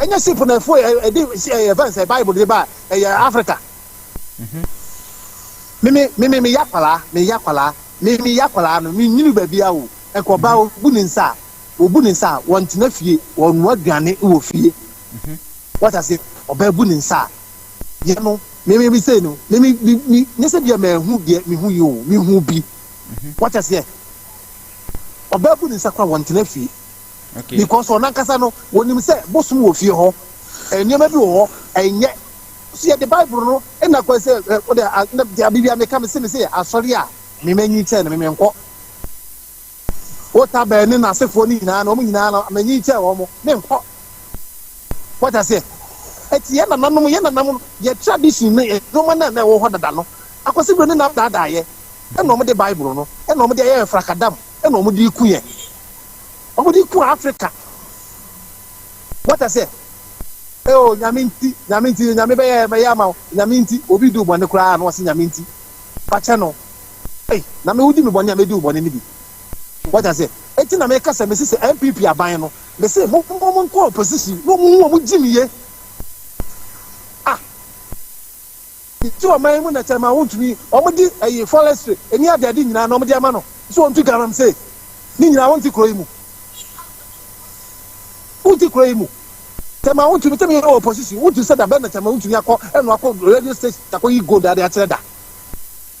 Ɛnyɛ ship na ɛfo ɛ ɛde ɛ ɛfɛn sɛ bible de ba ɛyɛ Africa. Mimi mimi mi yakwala mi yakwala mi mi yakwala no mi nyini baabi a o ɛkɔ ɔbaa obu ne nsa a obu ne nsa a wɔntena fie wɔnoa aduane wɔ fie wɔta se ɔbaa bu ne nsa a yɛ no mimi mi sei no mimi mi mi nyɛ sɛ bia mɛhu deɛ mehu yi o mehu bi wɔta seɛ ɔbaa bu ne nsa kora wɔntena fie. because ɔno ankasa no wɔnim sɛ bosom wɔ fie hɔ nneɛma bi wɔ hɔ ɛnyɛ so yɛde bible no ɛna kwan sɛ wode abibia meka me se me se asɔre a memanyi kyɛn no memenkɔ wota bɛn ne n'asefoɔ no nyinaa no wɔn nyinaa no manyi kyɛn wɔn menkɔ wɔta seɛ ɛti yɛ nananom yɛ nanam yɛ tradition no nneɛma no a na ɛwɔ hɔ dada no akɔsi bere ne nam daadaayɛ ɛna wɔn de bible no ɛna wɔn de ayɛ frakadam na wɔde reku yɛn. Wɔde reku Africa. Wɔta sɛ, ɛo nyame nti, nyame nti, nyame bɛyɛ bɛyɛ ama wo, nyame nti, obi di bɔne koraa na wɔse nyame nti, fakyɛ no. Ei, na me wodi me bɔne a medi wo bɔne no bi. Wɔta sɛ, eti na meka sɛ mese sɛ NPP aban no, mese mo mo mo nkɔ opposition na wɔn ho wɔn gyimie. Ah. Ti ɔman yi mu nɛtɛ ma wontumi wɔn di ɛyi forestry ɛni adɛɛde nyinaa na wɔn de ama no so wɔn tu galamsey ni nyinaa wonte kuro yi mu wonte kuro yi mu tɛ ma wontumi tɛ mi yɛ wɔ opposition wontu sɛ da bɛ nɛtɛ ma wontumi akɔ ɛnu akɔ radio station akɔ yi gold ade akyerɛ da.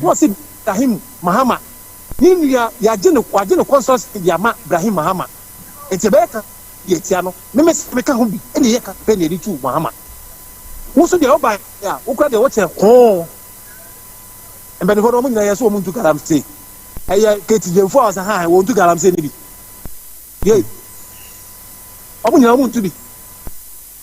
Na ɔse Brahim Mahama ne nua yɛagye no wagye no consultancy de ama Brahim Mahama nti ɛbɛyɛ campaign de atia no me me se meka ho bi ɛna ɛyɛ campaign yɛde tu Mahama wo nso deɛ wobaeɛ a wo kora deɛ wokyɛ hoo mpanifoɔ no wɔn nyinaa yɛse wɔn ntu galamsey ɛyɛ Katie Gyamfo a ɔse ha wɔn ntu galamsey no bi yei wɔn nyinaa wɔn ntu bi.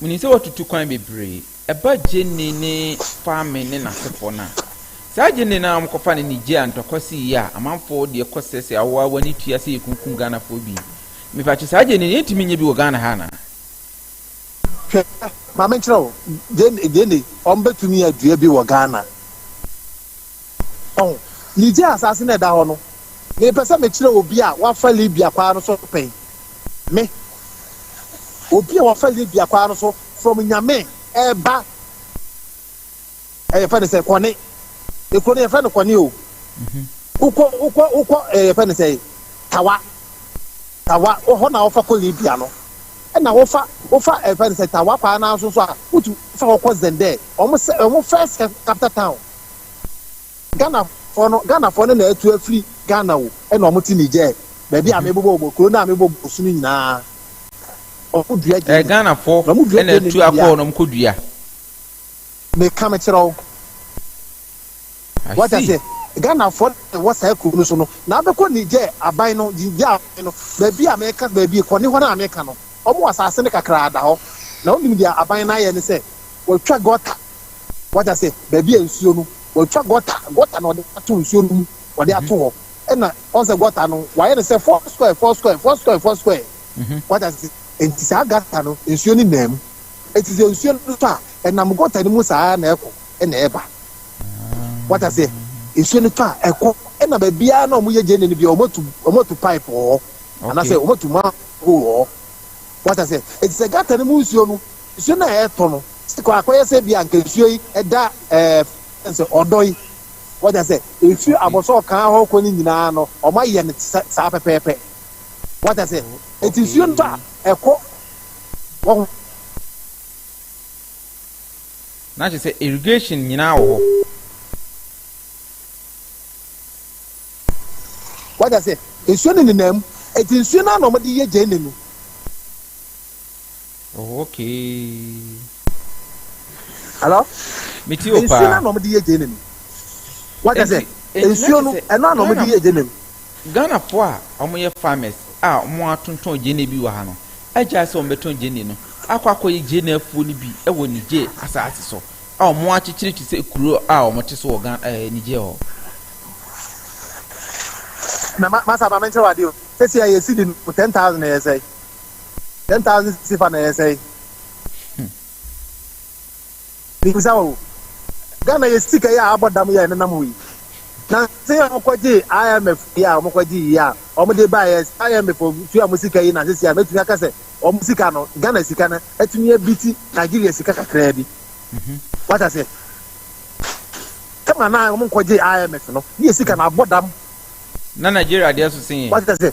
Menim sɛ woatutu kwan bebree. Ɛba Jenny ne Kwame ne n'asefoɔ no a, saa Jenny no ara a wɔkɔfa no Niger a ntɔkwa siiɛ a amanfoɔ deɛ kɔ sɛ sɛ awoa awoa ne tua sɛ yɛkunkum Ghanafoɔ bi yi. Mepakyɛ saa Jenny no yɛntumi nyɛ bi wɔ Ghana ha anaa? Hwɛ, ma menkyerɛ wo, Jenny, Jenny, wɔbɛtumi adua bi wɔ Ghana. Ɔho. Migye asaase no a ɛda hɔ no. Mepɛ sɛ mekyerɛ obi a wafa Libya kwaa no so pɛn. Me, obi a wafa Libya kwaa no so from Nyame ɛreba, yɛfɛ no sɛ Kɔne. Ekuro no yɛfɛ no Kɔne o. Wokɔ, wokɔ, wokɔ, yɛfɛ no sɛ Tawa. Tawa, hɔ na wofa kɔ Libya no. Ɛna wofa, wofa yɛfɛ no sɛ Tawa kwaa no ara nso so a, wotu fa hɔ kɔ Zender. Wɔn sɛ, wɔn first capital town. Ghanafoɔ no, Ghanafoɔ no na atu afiri Ghana o, ɛna wɔn te Niger, baabi a mebobɔ wɔn, kuro no a mebobɔ wɔn so no nyinaa, wɔn dua eh, gyeene. Ghanafoɔ Na wɔn dua na gyeene atu no akɔ deɛ hɔ a, na wɔn kɔ dua. meka mekyerɛ wo. I Wate see. aseɛ? Ghanafoɔ na ɛwɔ saa kuro no so no, na abɛkɔ Niger aban no, Niger aban no, baabi a meka, baabi kɔne hɔ no a meka no, wɔn asase no kakraa da hɔ. Na wonim deɛ aban no ayɛ ne sɛ, wɔatwa gɔta Wate ase? Baabi a nsuo no, wɔatwa gɔta, gɔta na wɔde ato nsuo no mu, wɔde ato hɔ. Ɛna wɔn sɛ gɔta no, wɔayɛ no sɛ four square, four square, four square, four square. Wate ase? Enti saa gata no, nsuo no nam. Enti sɛ nsuo no tɔ a, ɛnam gɔta no mu saa ara na ɛkɔ na ɛba. Wate ase? Nsuo no tɔ a, ɛkɔ. Ɛna baabiara na wɔyɛ gyene no biara, wɔatu, wɔatu pipe wɔ hɔ. Anaasɛ wɔatu manhole wɔ hɔ. Wate ase? Enti sɛ gata no mu nsuo no, Nsuo no a ɛretɔ no sɛ kɔ akɔyɛ sɛ bi a nka nsuo yi ɛda ɛɛ fɛn sɛ ɔdɔ yi wɔda sɛ efi abɔsɔɔ kan hɔ kɔ ne nyinaa no wɔn ayɛ no te saa pɛpɛɛpɛ wɔda sɛ eti nsuo no a ɛkɔ wɔn. Na kyerɛ sɛ irrigation nyinaa wɔ hɔ. Wɔda sɛ nsuo no nenam eti nsuo no a na wɔde yɛ gyɛne no. Oh okay. Hello? Me ti o paa. Nsuo na wɔn de yɛ gyeene no. Wata sɛ? Nsuo no ɛno na wɔn de yɛ gyeene no. Ghana fo a wɔn yɛ farmers a wɔn atontɔn gyeene bi wɔ ha no agyae sɛ wɔn bɛtɔn gyeene no akɔ akɔ yɛ gyeene afuo no bi wɔ Niger asaase so a wɔn akyekyere te sɛ kuro a wɔn te so wɔ Ghana ɛɛ eh, Niger hɔ. Na ma masa ma menkyerɛ wade o. Sɛsi a yɛsi di no ten thousand na yɛsɛe. Ten thousand sifa na yɛ sɛe. Bisa o. Ghana yɛ sika yi a abɔ dam yɛ nenam hɔ yi. Na se yɛ wɔkɔgye IMF yi a wɔkɔgye yi a wɔde ba yɛ IMF tua mo sika yi na sisi a mɛtumi aka sɛ wɔn sika no Ghana sika no atumi abiti Nigeria sika kakraa bi. Wata se. Kama na wɔn nkɔgye IMF no ne yɛ sika na abɔ dam. Na Nigeria deɛ so se yɛ. Wata se.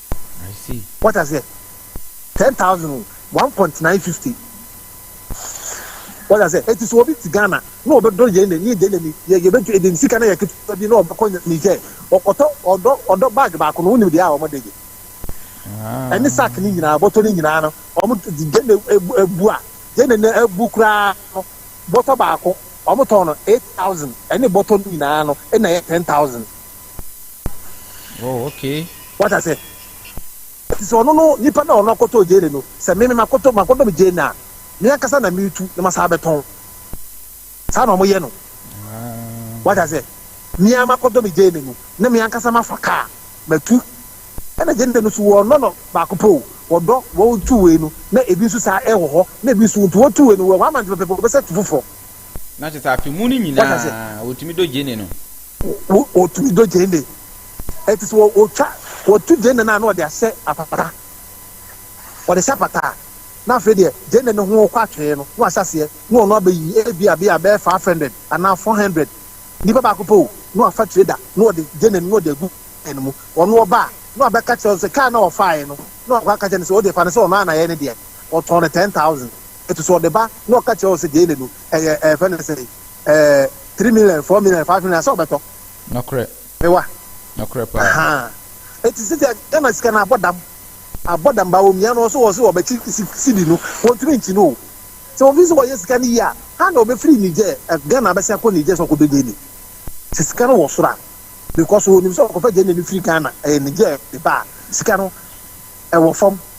I see. Wate aseɛ? Ten thousand o, one point nine fifty. Wate aseɛ? Eti sɛ obi te Ghana na ɔbɛdɔ yɛn na ni deɛ na ni yɛ yɛbɛtu edi sika na yɛ ketewa bi na ɔbɛkɔ Niger, ɔkɔtɔ ɔdɔ ɔdɔ bag baako no, wonim deɛ a wɔde gye? Ɛne sack ne nyinaa, bɔtɔ ne nyinaa no, wɔn deɛ na ebu ebu a, deɛ na na ebu koraa no, bɔtɔ baako wɔn tɔn no eight thousand, ɛne bɔtɔ ne nyinaa no na ɛyɛ ten thousand. Oh, okay. What I say? Ɛti sɛ ɔno no nipa na ɔno akɔtɔ gyeene no, sɛ me me makɔtɔ makɔtɔ me gyeene a, me ankasa na metu na masan abɛtɔn. Saa na wɔyɛ no. What I say? Me ara makɔtɔ me gyeene no na me ankasa mafa kaa matu. Ɛna gyeene no nso wɔnnɔ no baako pɛ o, wɔdɔ wɔn two wei no na ebi nso saa ɛwɔ hɔ na ebi nso nti wɔn two wei no wɔn amante pɛpɛɛpɛ wɔbɛsɛ tu foforɔ. Na kyerɛ sɛ afe mu no nyinaa wɔtumi dɔ gyeene no. Wɔtumi dɔ gyeene. Ɛti sɛ wɔtwa wɔto gyeene no a na wɔde ahyɛ apata. Wɔde hyɛ apata a na afei deɛ gyeene no ho kɔ atwee no na wɔahyɛ aseɛ na wɔn abɛyi ebi a bia bɛyɛ five hundred anaa four hundred nipa baako pɛ o na wɔafa trader na wɔde gyeene no na wɔde agu kaa no mu. Ɔno ɔba a na wɔabɛka kyerɛ no sɛ kaa na ɔfaeɛ no na wɔakɔ aka kyerɛ no sɛ o deɛ fa no sɛ ɔno ara na ɛyɛ ne deɛ ɔtɔn no ten thousand. ɛtu so ɔde ba na ɔka kyerɛ wo sɛ gyeene no ɛyɛ ɛfɛ no sɛ ɛɛ three million four million five million sɛ ɔbɛtɔ. Nɔkorɛ. Mewa. Nɔkorɛ paa. Ahaa eti sisi a Ghana sika no abɔ dam abɔ dam ba omia no ɔso ɔso ɔbɛkyi sidi no wɔntumi nkyi no o sɛ wɔn fi so wɔyɛ sika no yie a ha na ɔbɛfiri Niger Ghana abɛsi akɔ Niger sɛ ɔkɔdɔ gyeene sɛ sika no wɔ soro a because wɔnim sɛ ɔkɔfa gyeene no firi Ghana ɛyɛ Niger de ba a sika no ɛwɔ fam.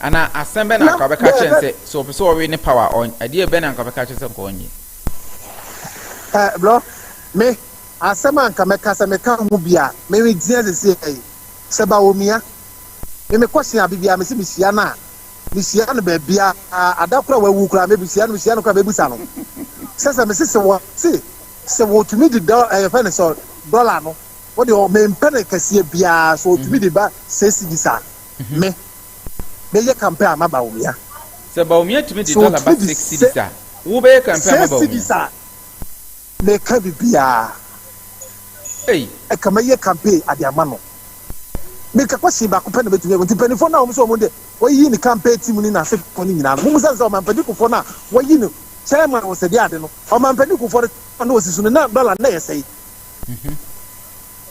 Ana asɛm bɛ na anka ɔbɛka kyerɛ no sɛ sɛ ɔpɛ sɛ ɔwe ne paw a ɛdeɛ bɛ na anka ɔbɛka kyerɛ sɛ nka ɔnyɛ eh, bro me asɛm a anka mɛka sɛ meka ho bi a mereteɛ sese yi sɛ ba wɔ mia me mekɔhyia biribi a mese mehyia no a mehyia no baabi a ada kora wawu kora mebusia no mehyia no kora mebusa no sɛ sɛ mese sɛ wɔ se sɛ wɔtumi de dɔ ɛyɛfɛ ne sɛ dɔla no wo de ɔ mempɛ ne kɛseɛ biaa so ɔtumi de ba sɛ cedis a me bɛ yɛ kampɛ ama Bawumia. Sɛ Bawumia tumi de dɔla ba sɛ cedis a wo bɛ yɛ kampɛ ama Bawumia. Sɛ cedis a me ka bi biaa ɛka mɛ yɛ kampɛ ade ama no me ka kwɛsyen baako pɛ na mɛ tumi yɛ nti panifoɔ na ɔmo sɛ ɔmo de wɔ yi ne kampɛ tim ne na se fɔ ne nyinaa no mo mu sɛ sɛ ɔmampɛ di kofoɔ na wɔ yi no chairman wɔ sɛ de ade no ɔmampɛ di kofoɔ no na ɔsi so no na dɔla na yɛ sɛ yi.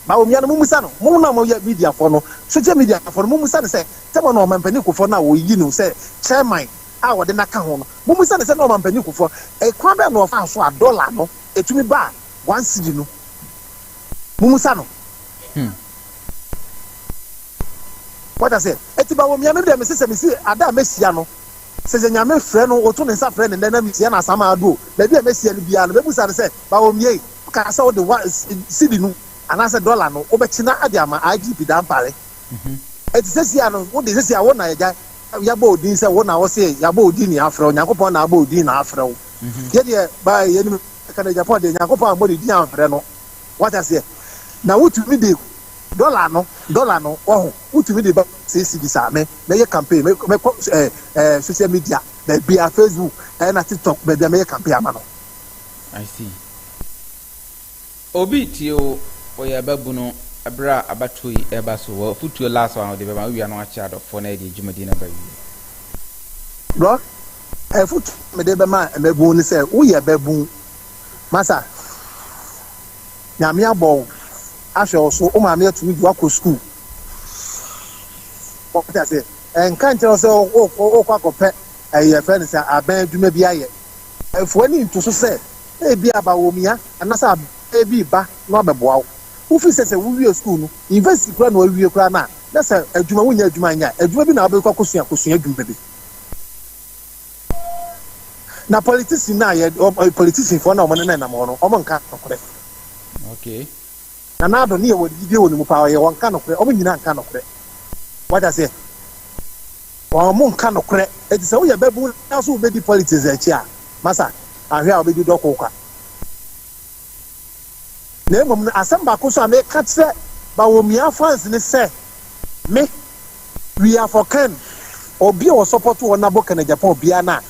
Bawo mmea no mummisa no, mo na moyɛ mediafo no, sogya mediafo no, mummisa no sɛ Tɛmɔ na Ɔmanpanin Kufuor no a wɔyi no sɛ Chairman a wɔde no aka ho no, mummisa no sɛ na Ɔmanpanin Kufuor kwan bɛn na ɔfaa so a dɔla no tumi baa one cedi no? Mummisa no. Wate aseɛ? Enti Bawo mmea no deɛ mese sɛ mesi ada a mɛhyia no, Sɛ yɛ Nyame frɛ no oto ne nsa frɛ no ndɛ na mitsia no asamaa do o, beebi a mehyia no biara no mebusa no sɛ, Bawomie, wokaa sɛ wode wa cedi no anaasɛ dɔla no wobɛkyena ade ama IGP Dampare. Enti sɛsi a no wode sɛsi a wo na yɛgya yɛabɔ wo din sɛ wo na wose yɛabɔ wo din na yɛafrɛ wo, Nyankopɔn na abɔ wo din na afrɛ wo. Yɛdeɛ ba yɛnim ka no Japan deɛ Nyankopɔn ammɔ ne din amfrɛ no. Wate aseɛ? Na wotumi de dɔla no, dɔla no, wahu? Wotumi de ba sɛ esi bisa me, mɛyɛ campaign, mɛkɔ mɛkɔ ɛɛ ɛɛ social media baabiara, Facebook ɛna TikTok baabiara mɛyɛ campaign ama no. I see. Obi retie wo, ɔyɛ ɔbabunu, bere a abatoɔ yi reba so, w'afotuo last one a wode bɛma, wowia no akyerɛ adɔfoɔ na yɛde yɛn dwumadie no aba awieɛ. Bro, afotuo a mede bɛma mmabun ne sɛ, woyɛ babun, masa, Nyame abɔ wo. ahwɛ wo so, wo maame atumi de wo akɔ sukuu. Wate aseɛ? Ɛnka nkyerɛ wo sɛ wokɔ akɔpɛ ɛyɛ eh, fɛ no sɛ abɛn adwuma bi ayɛ. Ɛfo w'ani nto so sɛ ebi abawomia anaasɛ abɛn bi reba na wabɛboa wo. Wofiri sɛ sɛ wowie sukuu no, university koraa na wawie koraa no a, na sɛ adwuma, wonnya adwuma nyɛ a, adwuma bi na wobɛkɔ akɔsua akɔsua adwuma bi. Na politician na yɛ politician fo na wɔn ne nam hɔ no wɔn nka nokorɛ. Okay. Na n'ado ne yɛ wɔ gyidie wɔ ne mu paa ɔyɛ wɔn nka nokorɛ wɔn nyinaa nka nokorɛ wata seɛ wɔn nka nokorɛ eti sɛ woyɛ bɛbu na so wobɛdi politics akyi a masa ahwɛ a wobɛdi dɔko kwa. Na mmom no, asɛm baako nso a meka kyerɛ Bawumia fans ne sɛ, Me, we are for Ken. Obi a ɔsɔpɔto wɔn na bɔ Ken Agyapong biara no a,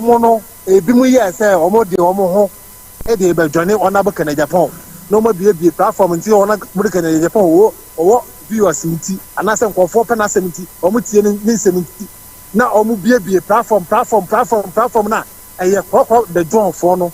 wɔn no, ebinom yɛɛ sɛ wɔde wɔn ho de rebɛdwane Ɔnabo Ken Agyapong na wɔabuebue platform nti sɛ Ɔnabo Ken Agyapong wɔ ɔwɔ viewers nti anaasɛ nkurɔfoɔ pɛ n'asɛm nti, wɔtie ne ne nsɛm nti na wɔbuebue platform, platform, platform, platform no a ɛyɛ korɔkorɔ the Johnfoɔ no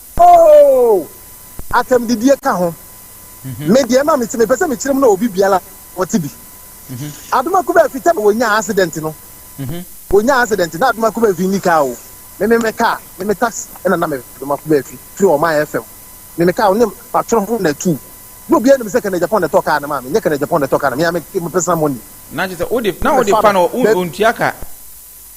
Oh! Atɛmdidie ka ho. Me deɛ ma mete mepɛ sɛ mekyerɛ mu na obi biara ɔte bi. Adomakuba fi tɛm wɔnyaa accident no. Wɔnyaa accident na Adomakuba fi nni kaa o. Me me me kaa, me me taxi ɛna na me Adomakuba fi firi ɔman FM. Me me kaa ne patro ho na tu. Na obiara nim sɛ Kenneth Agyapong na ɛtɔ kaa no maa me. Nyɛ Kenneth Agyapong na ɛtɔ kaa no, me a me me personal money. Na kyerɛ sɛ wode na wode fa no wontua ka.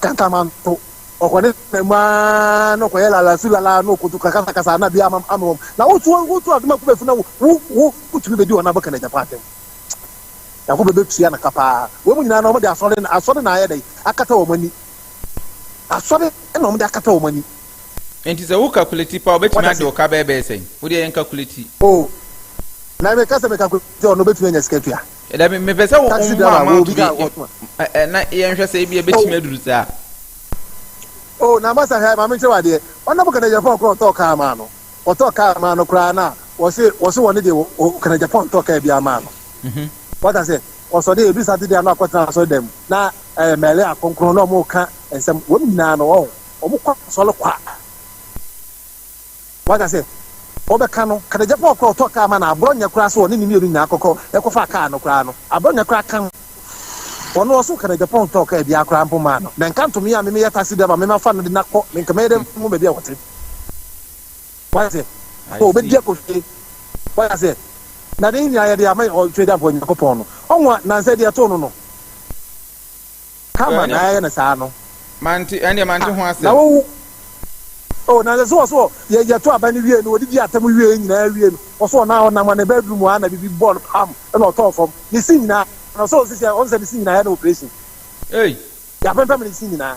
kankaman to ɔkɔ ne na mu aa na ɔkɔyɛ lalasu lala na ɔkɔtu kakasakasa na bi ama ama wɔm na wotu wotu adom akɔ bɛfu na wo wo wotumi bɛdi wɔn abɔka na agyapa atɛm yako bɛbɛtua no ka paa wɔn nyinaa na wɔde asɔre na asɔre na ayɛ dɛ akata wɔn ani asɔre na wɔde akata wɔn ani Nti sɛ wo calculate pa ɔbɛtumi Wada ade se. ɔka bɛɛ bɛyɛ sɛn? Wodeɛ yɛn calculate. o na meka sɛ meka kote ɔno bɛtumi anya sika tua Dabi, mepɛ sɛ wo Taxi driver, mma wo obi ka ato akɔtoma. bi ɛ- ɛ- na yɛnhwɛ sɛ ebi ebetumi aduru saa. Oh, na masa hɛ, maame nkyerɛ wadeɛ. Ɔna mo kana Japan kora ɔtɔɔ kaa maa no. Ɔtɔɔ kaa maa no koraa na wɔse wɔse wɔne deɛ wɔ- wɔ kana Japan tɔɔ kaa biara maa no. Wata sɛ ɔsɔde ebi Saturday ano akɔtena asɔre dɛm na ɛɛ mɛlɛ akronkron na ɔmo ka nsɛm wɔn nyinaa no ɔho ɔmo kɔ asɔre kwa. Waka sɛ, Wɔbɛka no, Kadegyapa ɔkoro a ɔtɔ kaa ma no aborɔ nyɛ koraa sɛ ɔne ne mmienu nyinaa kɔkɔ kɔfaa kaa no koraa no, aborɔ nyɛ koraa ka ho. Ɔno ɔsoo Kadegyapa ɔntɔɔ kaa biara koraa mpo mmaa no, na nka nto me a me meyɛ taxi driver me mafa no de no akɔ, me nka mɛyɛ dɛ mehu baabi a wɔte. Waka sɛ, Oh, ɔbɛdi akɔhwie. Waka sɛ, Na ne nyinaa yɛde ama Ɔtwedeɛfoɔ Nyankopɔn no. Ɔnwa, nansa adi ɛtoo no no. Kama na yɛayɛ no saa no. Mante, ɛndeɛ mante ho asɛm. Na wo, oh, na sɛ wɔ so yɛ, yɛto aba no wie no, wɔdidi atɛm wie yɛ nyinaa wie no, wɔ so na ɔnam ne bedroom hɔ a na biribi bɔɔ no pam na ɔtɔɔ fam. Ne se nyinaa, na ɔsɛ ɔsisi a, ɔnsɛ ne se nyinaa yɛ no operation. Ei! Yɛapempem ne se nyinaa.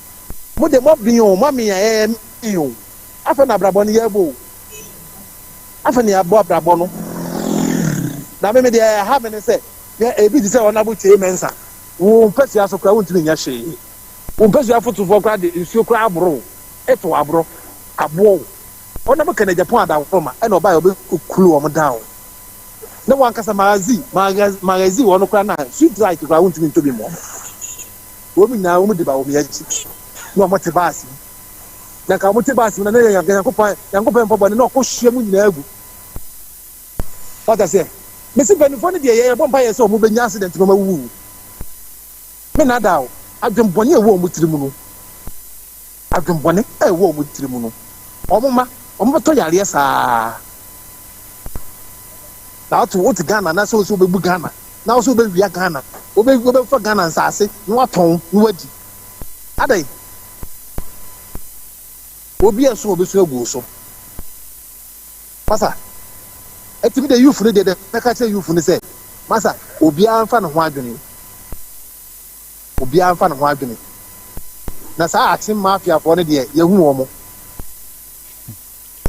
mo de mo ben o mo amen a ɛyɛ men o afei na abrabɔ no yɛbɔ o afei na yɛbɔ abrabɔ no na me me deɛ ɛha me ne sɛ yɛ ebi te sɛ wɔn abo tie mɛnsa wo mpɛsua so koraa wontumi nyɛ hwee wo mpɛsua fotofoɔ koraa de nsuo koraa aboro eto aboro aboɔ o wɔn abo kɛnɛ japan adaworo ma ɛna ɔbaa yɛ ɔbɛ kulu wɔn dan o na wɔn ankasa magazi magazi wɔn koraa na sweet light koraa wontumi ntobi mu wɔn. Wɔn nyinaa wɔn de ba wɔn akyi na wɔte baase mu. Na nka wɔte baase mu na na yɛ Nyankopɔn Nyankopɔn mpa bɔne na ɔkɔ hyia mu nyinaa gu. Wata sɛ mesi mpanimfoɔ no deɛ yɛbɔ mpa yɛ sɛ wɔn bɛnya accident na wɔn awuwu. Me nada o, adwene bɔne a ɛwɔ wɔn tiri mu no. adwenbɔne a ɛwɔ wɔn tiri mu no, wɔn mma wɔbɛtɔ yareɛ saa. Na wote wote Ghana na sɛ wo sɛ wobɛbu Ghana na wo sɛ wobɛwia Ghana, wobɛ wobɛfa Ghana nsaase na watɔn na wadi. Adɛn? Obi a ɛso wɔbɛsu agu wo so. Masa, ɛtumi de youth no deɛ deɛ mɛka kyerɛ youth no sɛ, masa, obiara mfa ne ho adwene. Obiara mfa ne ho adwene. Na saa atem mafia foɔ no deɛ yɛhu wɔn.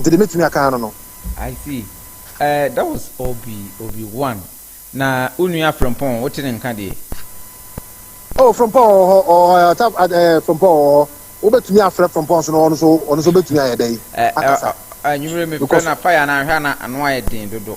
Nti deɛ mɛtumi aka ano no. I see eh that was Obi Obi one na wo nua Frimpong wote ne nka deɛ. Oh Frimpong wɔ hɔ ɔwɔ hɔ ɔta eh Frimpong wɔ hɔ wobɛtumi afrɛ Frimpong so na ɔno so ɔno so bɛtumi ayɛ dɛn akasa. Anwummerɛ mefrɛ na fire no ahwɛ na ano ayɛ den dodo.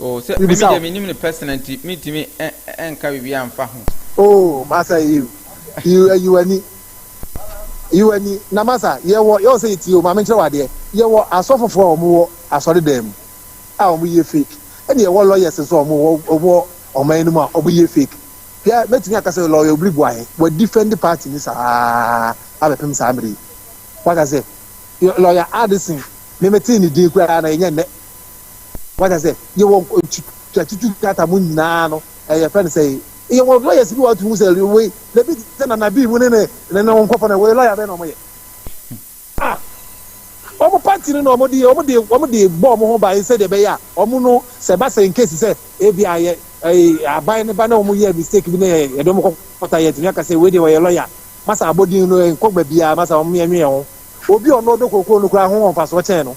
Oh sɛ me deɛ me nim no personal nti me ntumi nka biribi anfa ho. Oh masa yiw yiw ayiwani yiwani na masa yɛwɔ yɛwɔ sɛ yɛtie o maame nkyerɛ wadeɛ yɛwɔ asɔfofoɔ a wɔn wɔ asɔre dan mu a wɔn yɛ fake ɛna yɛwɔ lawyers nso a wɔn wɔ wɔn wɔ ɔman no mu a wɔn yɛ fake hwɛ mɛtumi aka sɛ lawyer obiri bu ahe wɔ defend party ni saa abɛpem saa mmiri wata sɛ lawyer Addison me me tee ne din koraa na yɛnyɛ nnɛ. wata sɛ yɛwɔ tutu krataa mu nyinaa no ɛyɛ fɛn sɛ yɛwɔ lɔyɛs bi wɔatu hu sɛ wei na bi sɛ nana bi mu ne ne ne ne nkɔfɔ no wei lɔya bɛn na wɔyɛ a wɔn pati no na wɔn de wɔn de wɔn de bɔ wɔn ho ban sɛ deɛ bɛyɛ a wɔn no sɛ ba sɛ nkesi sɛ ebi ayɛ ɛyɛ aban ne ba na wɔn yɛ mistake bi na yɛ yɛde wɔn kɔkɔta yɛ tumi aka sɛ wei deɛ wɔyɛ lɔya masa abɔdin no nkɔ baabi a masa wɔn yɛ nwɛn ho obi ɔno ɔdɔ kokoro no kura ho wɔn fa so kyɛn no.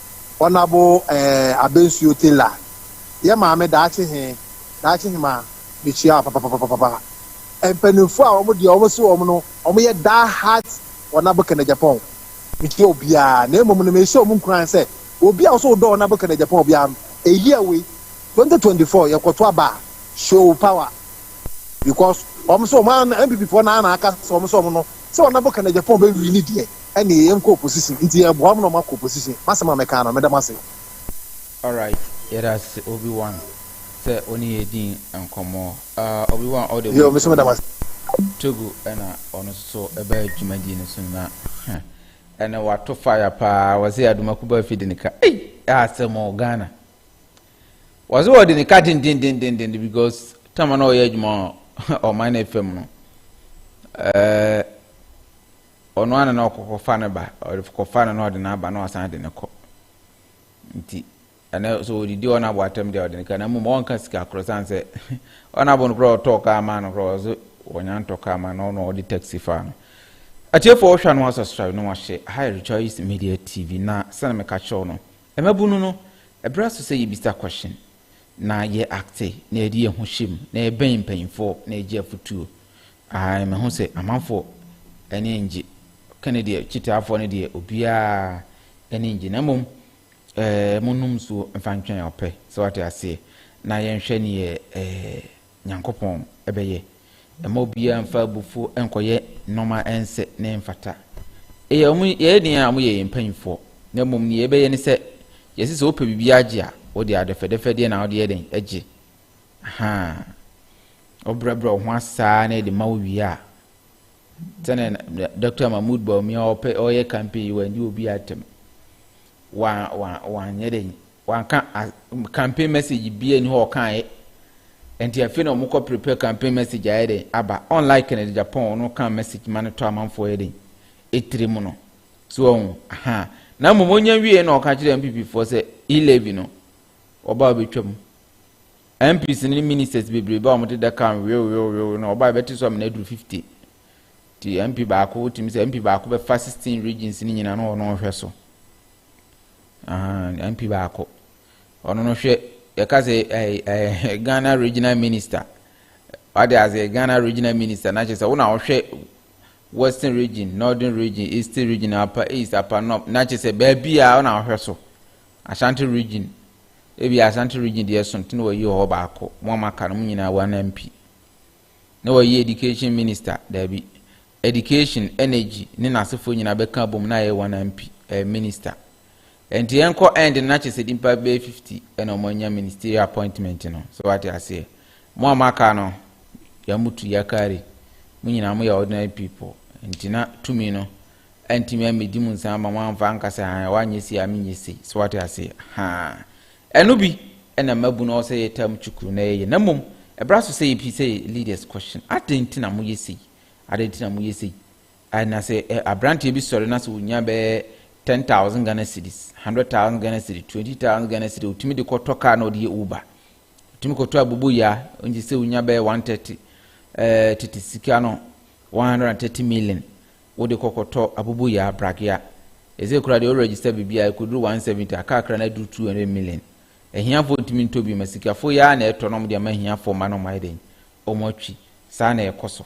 Ɔnabo eh Abensuo Taylor yɛ maame daakye he, daakye he ma mekyia wo papapapapapa. Mpaninfoɔ a wɔn deɛ wɔn se wɔn no wɔn yɛ die heart Ɔnabo Kennedy-Agyapong mekyia obiaa na mmom no meehyɛ wɔn nkuran sɛ obi a wo se wodɔ Ɔnabo Kennedy-Agyapong biaa no a year wei 2024 yɛkɔto aba a show power because wɔn se wɔn a NPPfoɔ no ara na aka sɛ wɔn se wɔn no Sɛ ɔnabɔ ka nagyapɔn bɛ wi ne deɛ ɛneɛ yɛn kɔ opposition nti yɛ boa mo na ɔmo akɔ opposition masɛm a mɛkaa no meda mo ase. Alright yɛdase obi wan sɛ wone yɛ dii nkɔmmɔ ah obi wan ɔde Yo meso meda mo ase. Togo ɛna ɔno nso ɛbaa dwumadie no so na huh ɛnɛ wato fire paa wɔse Adomakuba afide no ka ei asɛm o Ghana Wɔse wɔde ne ka dendendendenden because tama na ɔyɛ adwuma ɔman no fam no ɛɛ ɔno ana na ɔkɔkɔfa ne ba ɔkɔfa no na ɔde n'aba na ɔsan de ne kɔ nti ɛnɛ so ɔdidi ɔno abo atɛm deɛ ɔde ne ka na mmom ɔnka sika korɔ san sɛ ɔno abo no korɔ ɔtɔɔ kaa ma no korɔ ɔse wɔnya ntɔ kaa ma no ɔno ɔde taxi fa no atiefoɔ wohwɛ no asasra no wahyɛ high rejoice media tv na sɛne meka kyerɛw no Mmabunu no, ɛberɛ aso sɛ yɛbisa kɔhyen, na yɛ acte, na yɛde yɛn ho hyɛ mu, na yɛbɛn mpaninfoɔ na yɛgye afotuo. Ae, mɛho sɛ amanfoɔ ani ngye, ka ne deɛ, kyitaafoɔ no deɛ obiara ani ngye, na mmom ɛɛ, mo nnom nsuo mfa ntwɛn ɔpɛ, sɛ wate aseɛ, na yɛnhwɛ neɛ ɛɛ. Nyankopɔn bɛyɛ. Mma obiara mfa abufuo nkɔyɛ nnoɔma a ɛnsɛ na ɛmfata. Eyɛ wɔn yɛyɛ deɛn a wɔyɛ yɛn mpanyinfoɔ, na mmom deɛ yɛbɛyɛ ne sɛ, yɛse sɛ wopɛ biribi agye a, wode adɛfɛdɛfɛ deɛ na wode yɛ dɛn gye. Ahaa. Wobrɛbrɛ wo ho asaa na ɛde ma wo wie a, sɛnea Dr. Mahmoud Bawumia ɔpɛ ɔyɛ campaign yi wandi obi atɛm. Wa wa wanyɛ dɛn Wanka as campaign message biaa nni hɔ a ɔkaeɛ ɛnti afei na ɔmo kɔ prepare campaign message ayɛ dɛn aba unlike Kennedy Agyapong ɔno ɔkaa message ma no tɔ amanfoɔ yɛ dɛn ɛtire mu no so wahu ahaa na mmom ɔnya wieɛ na ɔka kyerɛ NPP foɔ sɛ E levy no ɔbaa ɔbɛtwa mu MPs no ne ministers bebree baa ɔmo deda kaa wewewewewe na ɔbaa ɛbɛte so amena aduru 50 ti MP baako wotumi sɛ MP baako bɛfa 16 regions no nyina na ɔno ɔhwɛ so. Ahaa MP baako. Ɔno no hwɛ yɛka sɛ ɛɛ Ghana regional minister. Wade ase Ghana regional minister na kyerɛ sɛ wo na wohwɛ western region, northern region, eastern region, upper east, upper north na kyerɛ sɛ baabi a wo na wohwɛ so. Ashanti region ebi Ashanti region deɛ so nti na wɔyi hɔ baako. Mo a moaka no mo nyinaa wɔn MP. na wayɛ Education Minister, daabi, Education, Energy ne n'asefoɔ nyinaa bɛka abom na ayɛ one MP, ɛɛ, Minister. Ɛnti yɛnkɔ end no na kyɛ sɛ nipa bɛyɛ 50 ɛna ɔmo anya ministerial appointment no, so wate aseɛ. Mo a moaka no, Yamutu, Yakari, mo nyinaa mo yɛ ordinary people, ɛnti na tumi no antumi ammɛdi mo nsa ama mo amfa anka sɛ han, wanyɛ sei a menyɛ sei, so wate aseɛ, haa. Ɛno bi na mmabun no ɔwɔ sɛ yɛ term chukuru na yɛyɛ na mmom ɛbra so sɛ yɛ pii sɛ yɛ leaders question adɛn nti na mo yɛ sei adɛn nti na mo yɛ sei I na sɛ eh, abranteɛ bi sɔre na sɛ onya bɛyɛ ten thousand Ghana cedis hundred thousand Ghana cedis twenty thousand Ghana cedis otumi de kɔtɔ car na ɔde yɛ uber otumi kɔtɔ abobo ya nti sɛ onya bɛyɛ one thirty eh, tete sika no One hundred and thirty million wode kɔ kɔtɔ aboboyaa pragea ɛsɛ kura deɛ wo register biribiaa ɛkɔduru one seventy a car kra no aduru two hundred million ahiafoɔ ntumi ntɔ bi ma sikafoɔ yi ara na ɛtɔ na wɔn de ama ahiafoɔ mma na wɔn ayɛ dɛn wɔn atwi saa na ɛkɔ so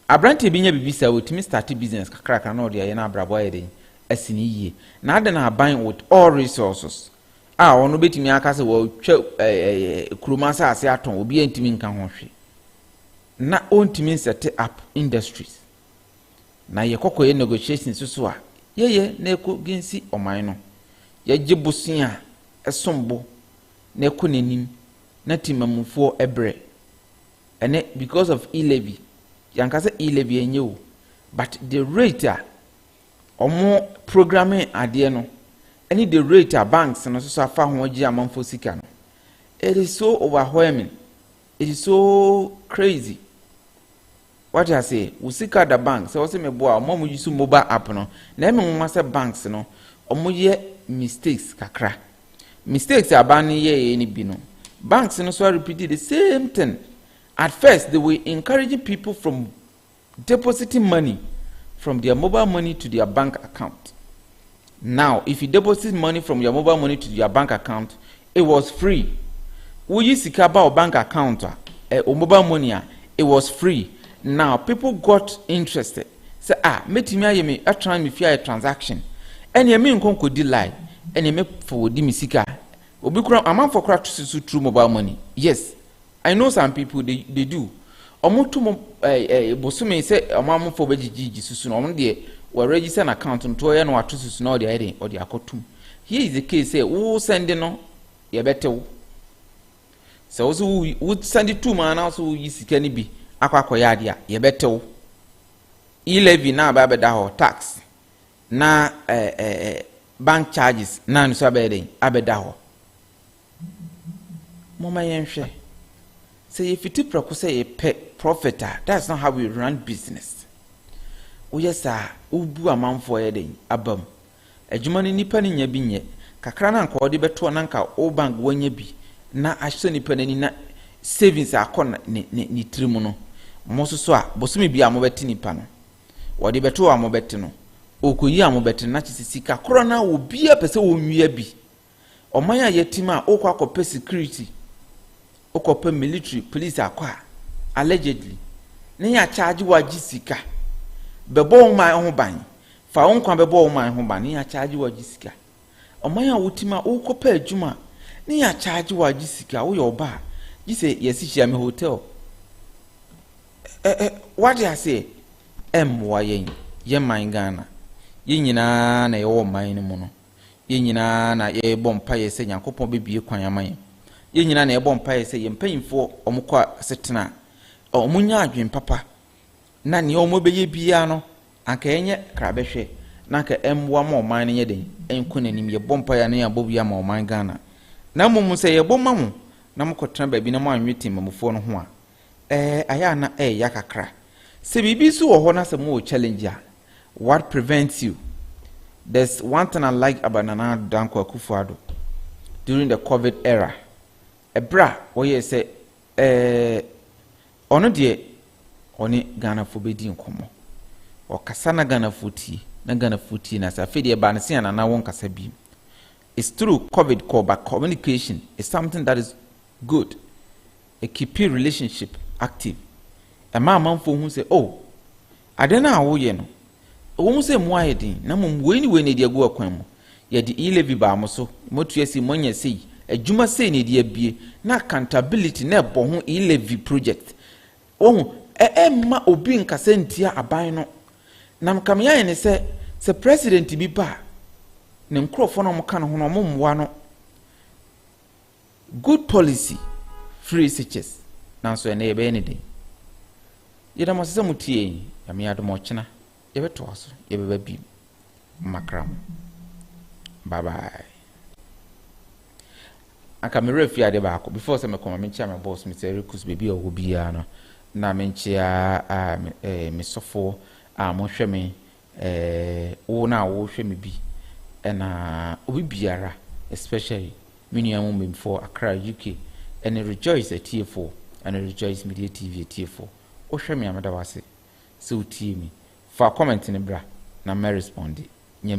aberanteɛ bi nya biribi saa wɔtumi starte business kakrakra na ɔde ayɛ na abrabɔ ayɛ dɛn asi ne yie na adɛn na aban with all resources a ɔno bɛtumi aka sɛ wɔtwa kurom asase atɔn obiara ntumi nka ho hwe na ɔntumi nsɛte up industries. Na yɛ kɔkɔ yɛ negotiations soso a yɛ yɛ na ɛkɔ ginsi ɔman no. Yɛ gye bosea a ɛsom bo na ɛkɔ nanim na timamufoɔ brɛ. Ɛnɛ because of e-levy, yɛ anka sɛ e-levy ɛnyɛ o, but the rate a ɔmo programme adeɛ no ɛne the rate a banks no soso afa ho agye amanfoɔ sika no, it is so overwhelming. It is so crazy wate aseɛ wo sika da bank sɛ wɔsɛ meboa ɔmo a ɔmo use mobile app no na ɛmi nwoma sɛ banks no ɔmo yɛ mistakes kakra mistakes aban no yɛɛyɛ no bi no banks no so repeat the same thing at first they were encouraging people from depositing money from their mobile money to their bank account. Now, if you deposit money from your mobile money to your bank account, it was free. Woyi sika ba wo bank account a, eh, wo mobile money a, it was free. Now, people got interested. Sɛ ah, mɛtumi ayɛ me atran me fie ayɛ transaction. Ɛneɛ me nkɔ nkɔdi line. Ɛneɛ mɛfa wɔdi me sika. Obi kora, amanfoɔ kora susu through mobile money. Yes. I know some people they they do ɔmo to mo ɛɛ ɛɛ bosome sɛ ɔmo amofo bɛ gyigyi susu na ɔmo deɛ wɔ register na account no to ɔyɛ no ato susu na ɔde ayɛ den ɔde akɔ tum here is the case sɛ wo sɛnde no yɛ bɛ tew sɛ wo so wo wo sɛnde tum a na so wo yi sika no bi akɔ akɔyɛ adeɛ a yɛ bɛ tew e levy na abɛ abɛda hɔ tax na ɛɛ ɛɛ bank charges na nso abɛyɛ den abɛda hɔ. Momma yɛnhwɛ. Sɛ yefiti prɛko sɛ yɛpɛ profit a, that's not how we run business. Woyɛ saa a, wubu amanfo a wɔyɛ dɛn? abam. Adwuma no nnipa no nya bi nyɛ. Kakra no a anka wɔde bɛtoa no anka wo bank wanya bi na asɔ nnipa no ani na savings akɔ ne tirim no, mo nso so a, bosome biara mobɛte nnipa no. Wɔde bɛto hɔ a mobɛte no, wɔkɔyi a mobɛte no na kyerɛ sɛ sika korɔ no a obiara pɛ sɛ ɔwia bi. Ɔman a yɛatim a wokɔ akɔpɛ security, wokɔpɛ military police akɔ a, allegedly, na yɛakyagye wo agye sika. Bɛbɔ wo man ho ban. Fa wo nkwa bɛbɔ wo man ho ban na yɛakyagye wo agye sika. Ɔman a wotim a wokɔpɛ adwuma a, na yɛakyagye wo agye sika. Woyɛ ɔbaa, gye sɛ yɛsi hyia me hotel. Ɛ ɛ wade aseɛ? Ɛmmoa yɛn, yɛn man Ghana. Yɛn nyinaa na yɛwɔ ɔman no mu no. Yɛn nyinaa na yɛrebɔ mpaeɛ sɛ Nyankopɔn bɛbue kwan ama yɛn. Yɛn nyinaa na yɛbɔ mpaeɛ sɛ yɛn mpanyimfoɔ wɔn kɔ asetena a, wɔn nya adwene papa na nea wɔn bɛyɛ biara no anka ɛnyɛ krabɛhwɛ na anka ɛmmoa ma ɔman no nyɛ den ɛnkɔ n'anim. Yɛbɔ mpaeɛ a na yɛabɔ bi ama ɔman Ghana. Na mmom sɛ yɛbɔ ma mo na mokɔtena baabi na moanwe temmamufoɔ no ho a, Ɛɛ ayɛ a na ɛɛya kakra. Sɛ biribi nso wɔ hɔ na sɛ mowɔ challenge a, what prevents you? There's one thing I like about Nana Danko Akufo-Addo during the COVID era. Ɛberɛ a wɔyɛɛ sɛ ɛɛ ɔno deɛ ɔne Ghanafoɔ bɛdi nkɔmmɔ. Ɔkasa na Ghanafoɔ tie, na Ghanafoɔ tie na sɛ afei deɛ ɛbaa no sɛ Nana wo nkasa bi. It's true COVID kɔ but communication is something that is good. E keepi relationship active, Ɛma amanfoɔ hu sɛ, oh, ade no a woyɛ no, ɛwɔ mu sɛ emu ayɛ den, na mmom wei ne wei na ɛde agu akwan mu. Yɛde e-levy baa mo so, moatua sei, moanya sei, adwuma sei na ɛde abue, na accountability na ɛbɔ ho e-levy project. Wahu? Ɛ, ɛmma obi nkasa ntia aban no. Na nka me ayɛ ne sɛ, sɛ president bi ba a, ne nkurɔfoɔ no a wɔka ne ho no, wɔmmoa no. Good policy free sitches nanso ɛnnɛ yɛbɛyɛ no dɛn? Yɛda mo ase sɛ motie yɛn. Nyame adom a ɔkyena yɛbɛtoa so, yɛbɛba bio. Makra mo. Bye bye. Anka me werɛ fi ade baako before sɛ mekɔma menkyia me boss me sɛ rekus baabi a ɔwɔ biara no na menkyia me sɔfoɔ a mohwɛ me Eh, wo na wohwɛ me bi ɛna obi biara especially me nua mu mbemfoɔ Accra UK ɛne Rejoice atiefoɔ ɛne Rejoice Media TV atiefoɔ wohwɛ me a meda wo ase sɛ wotie me fa comment no bra na mɛresponde Nyame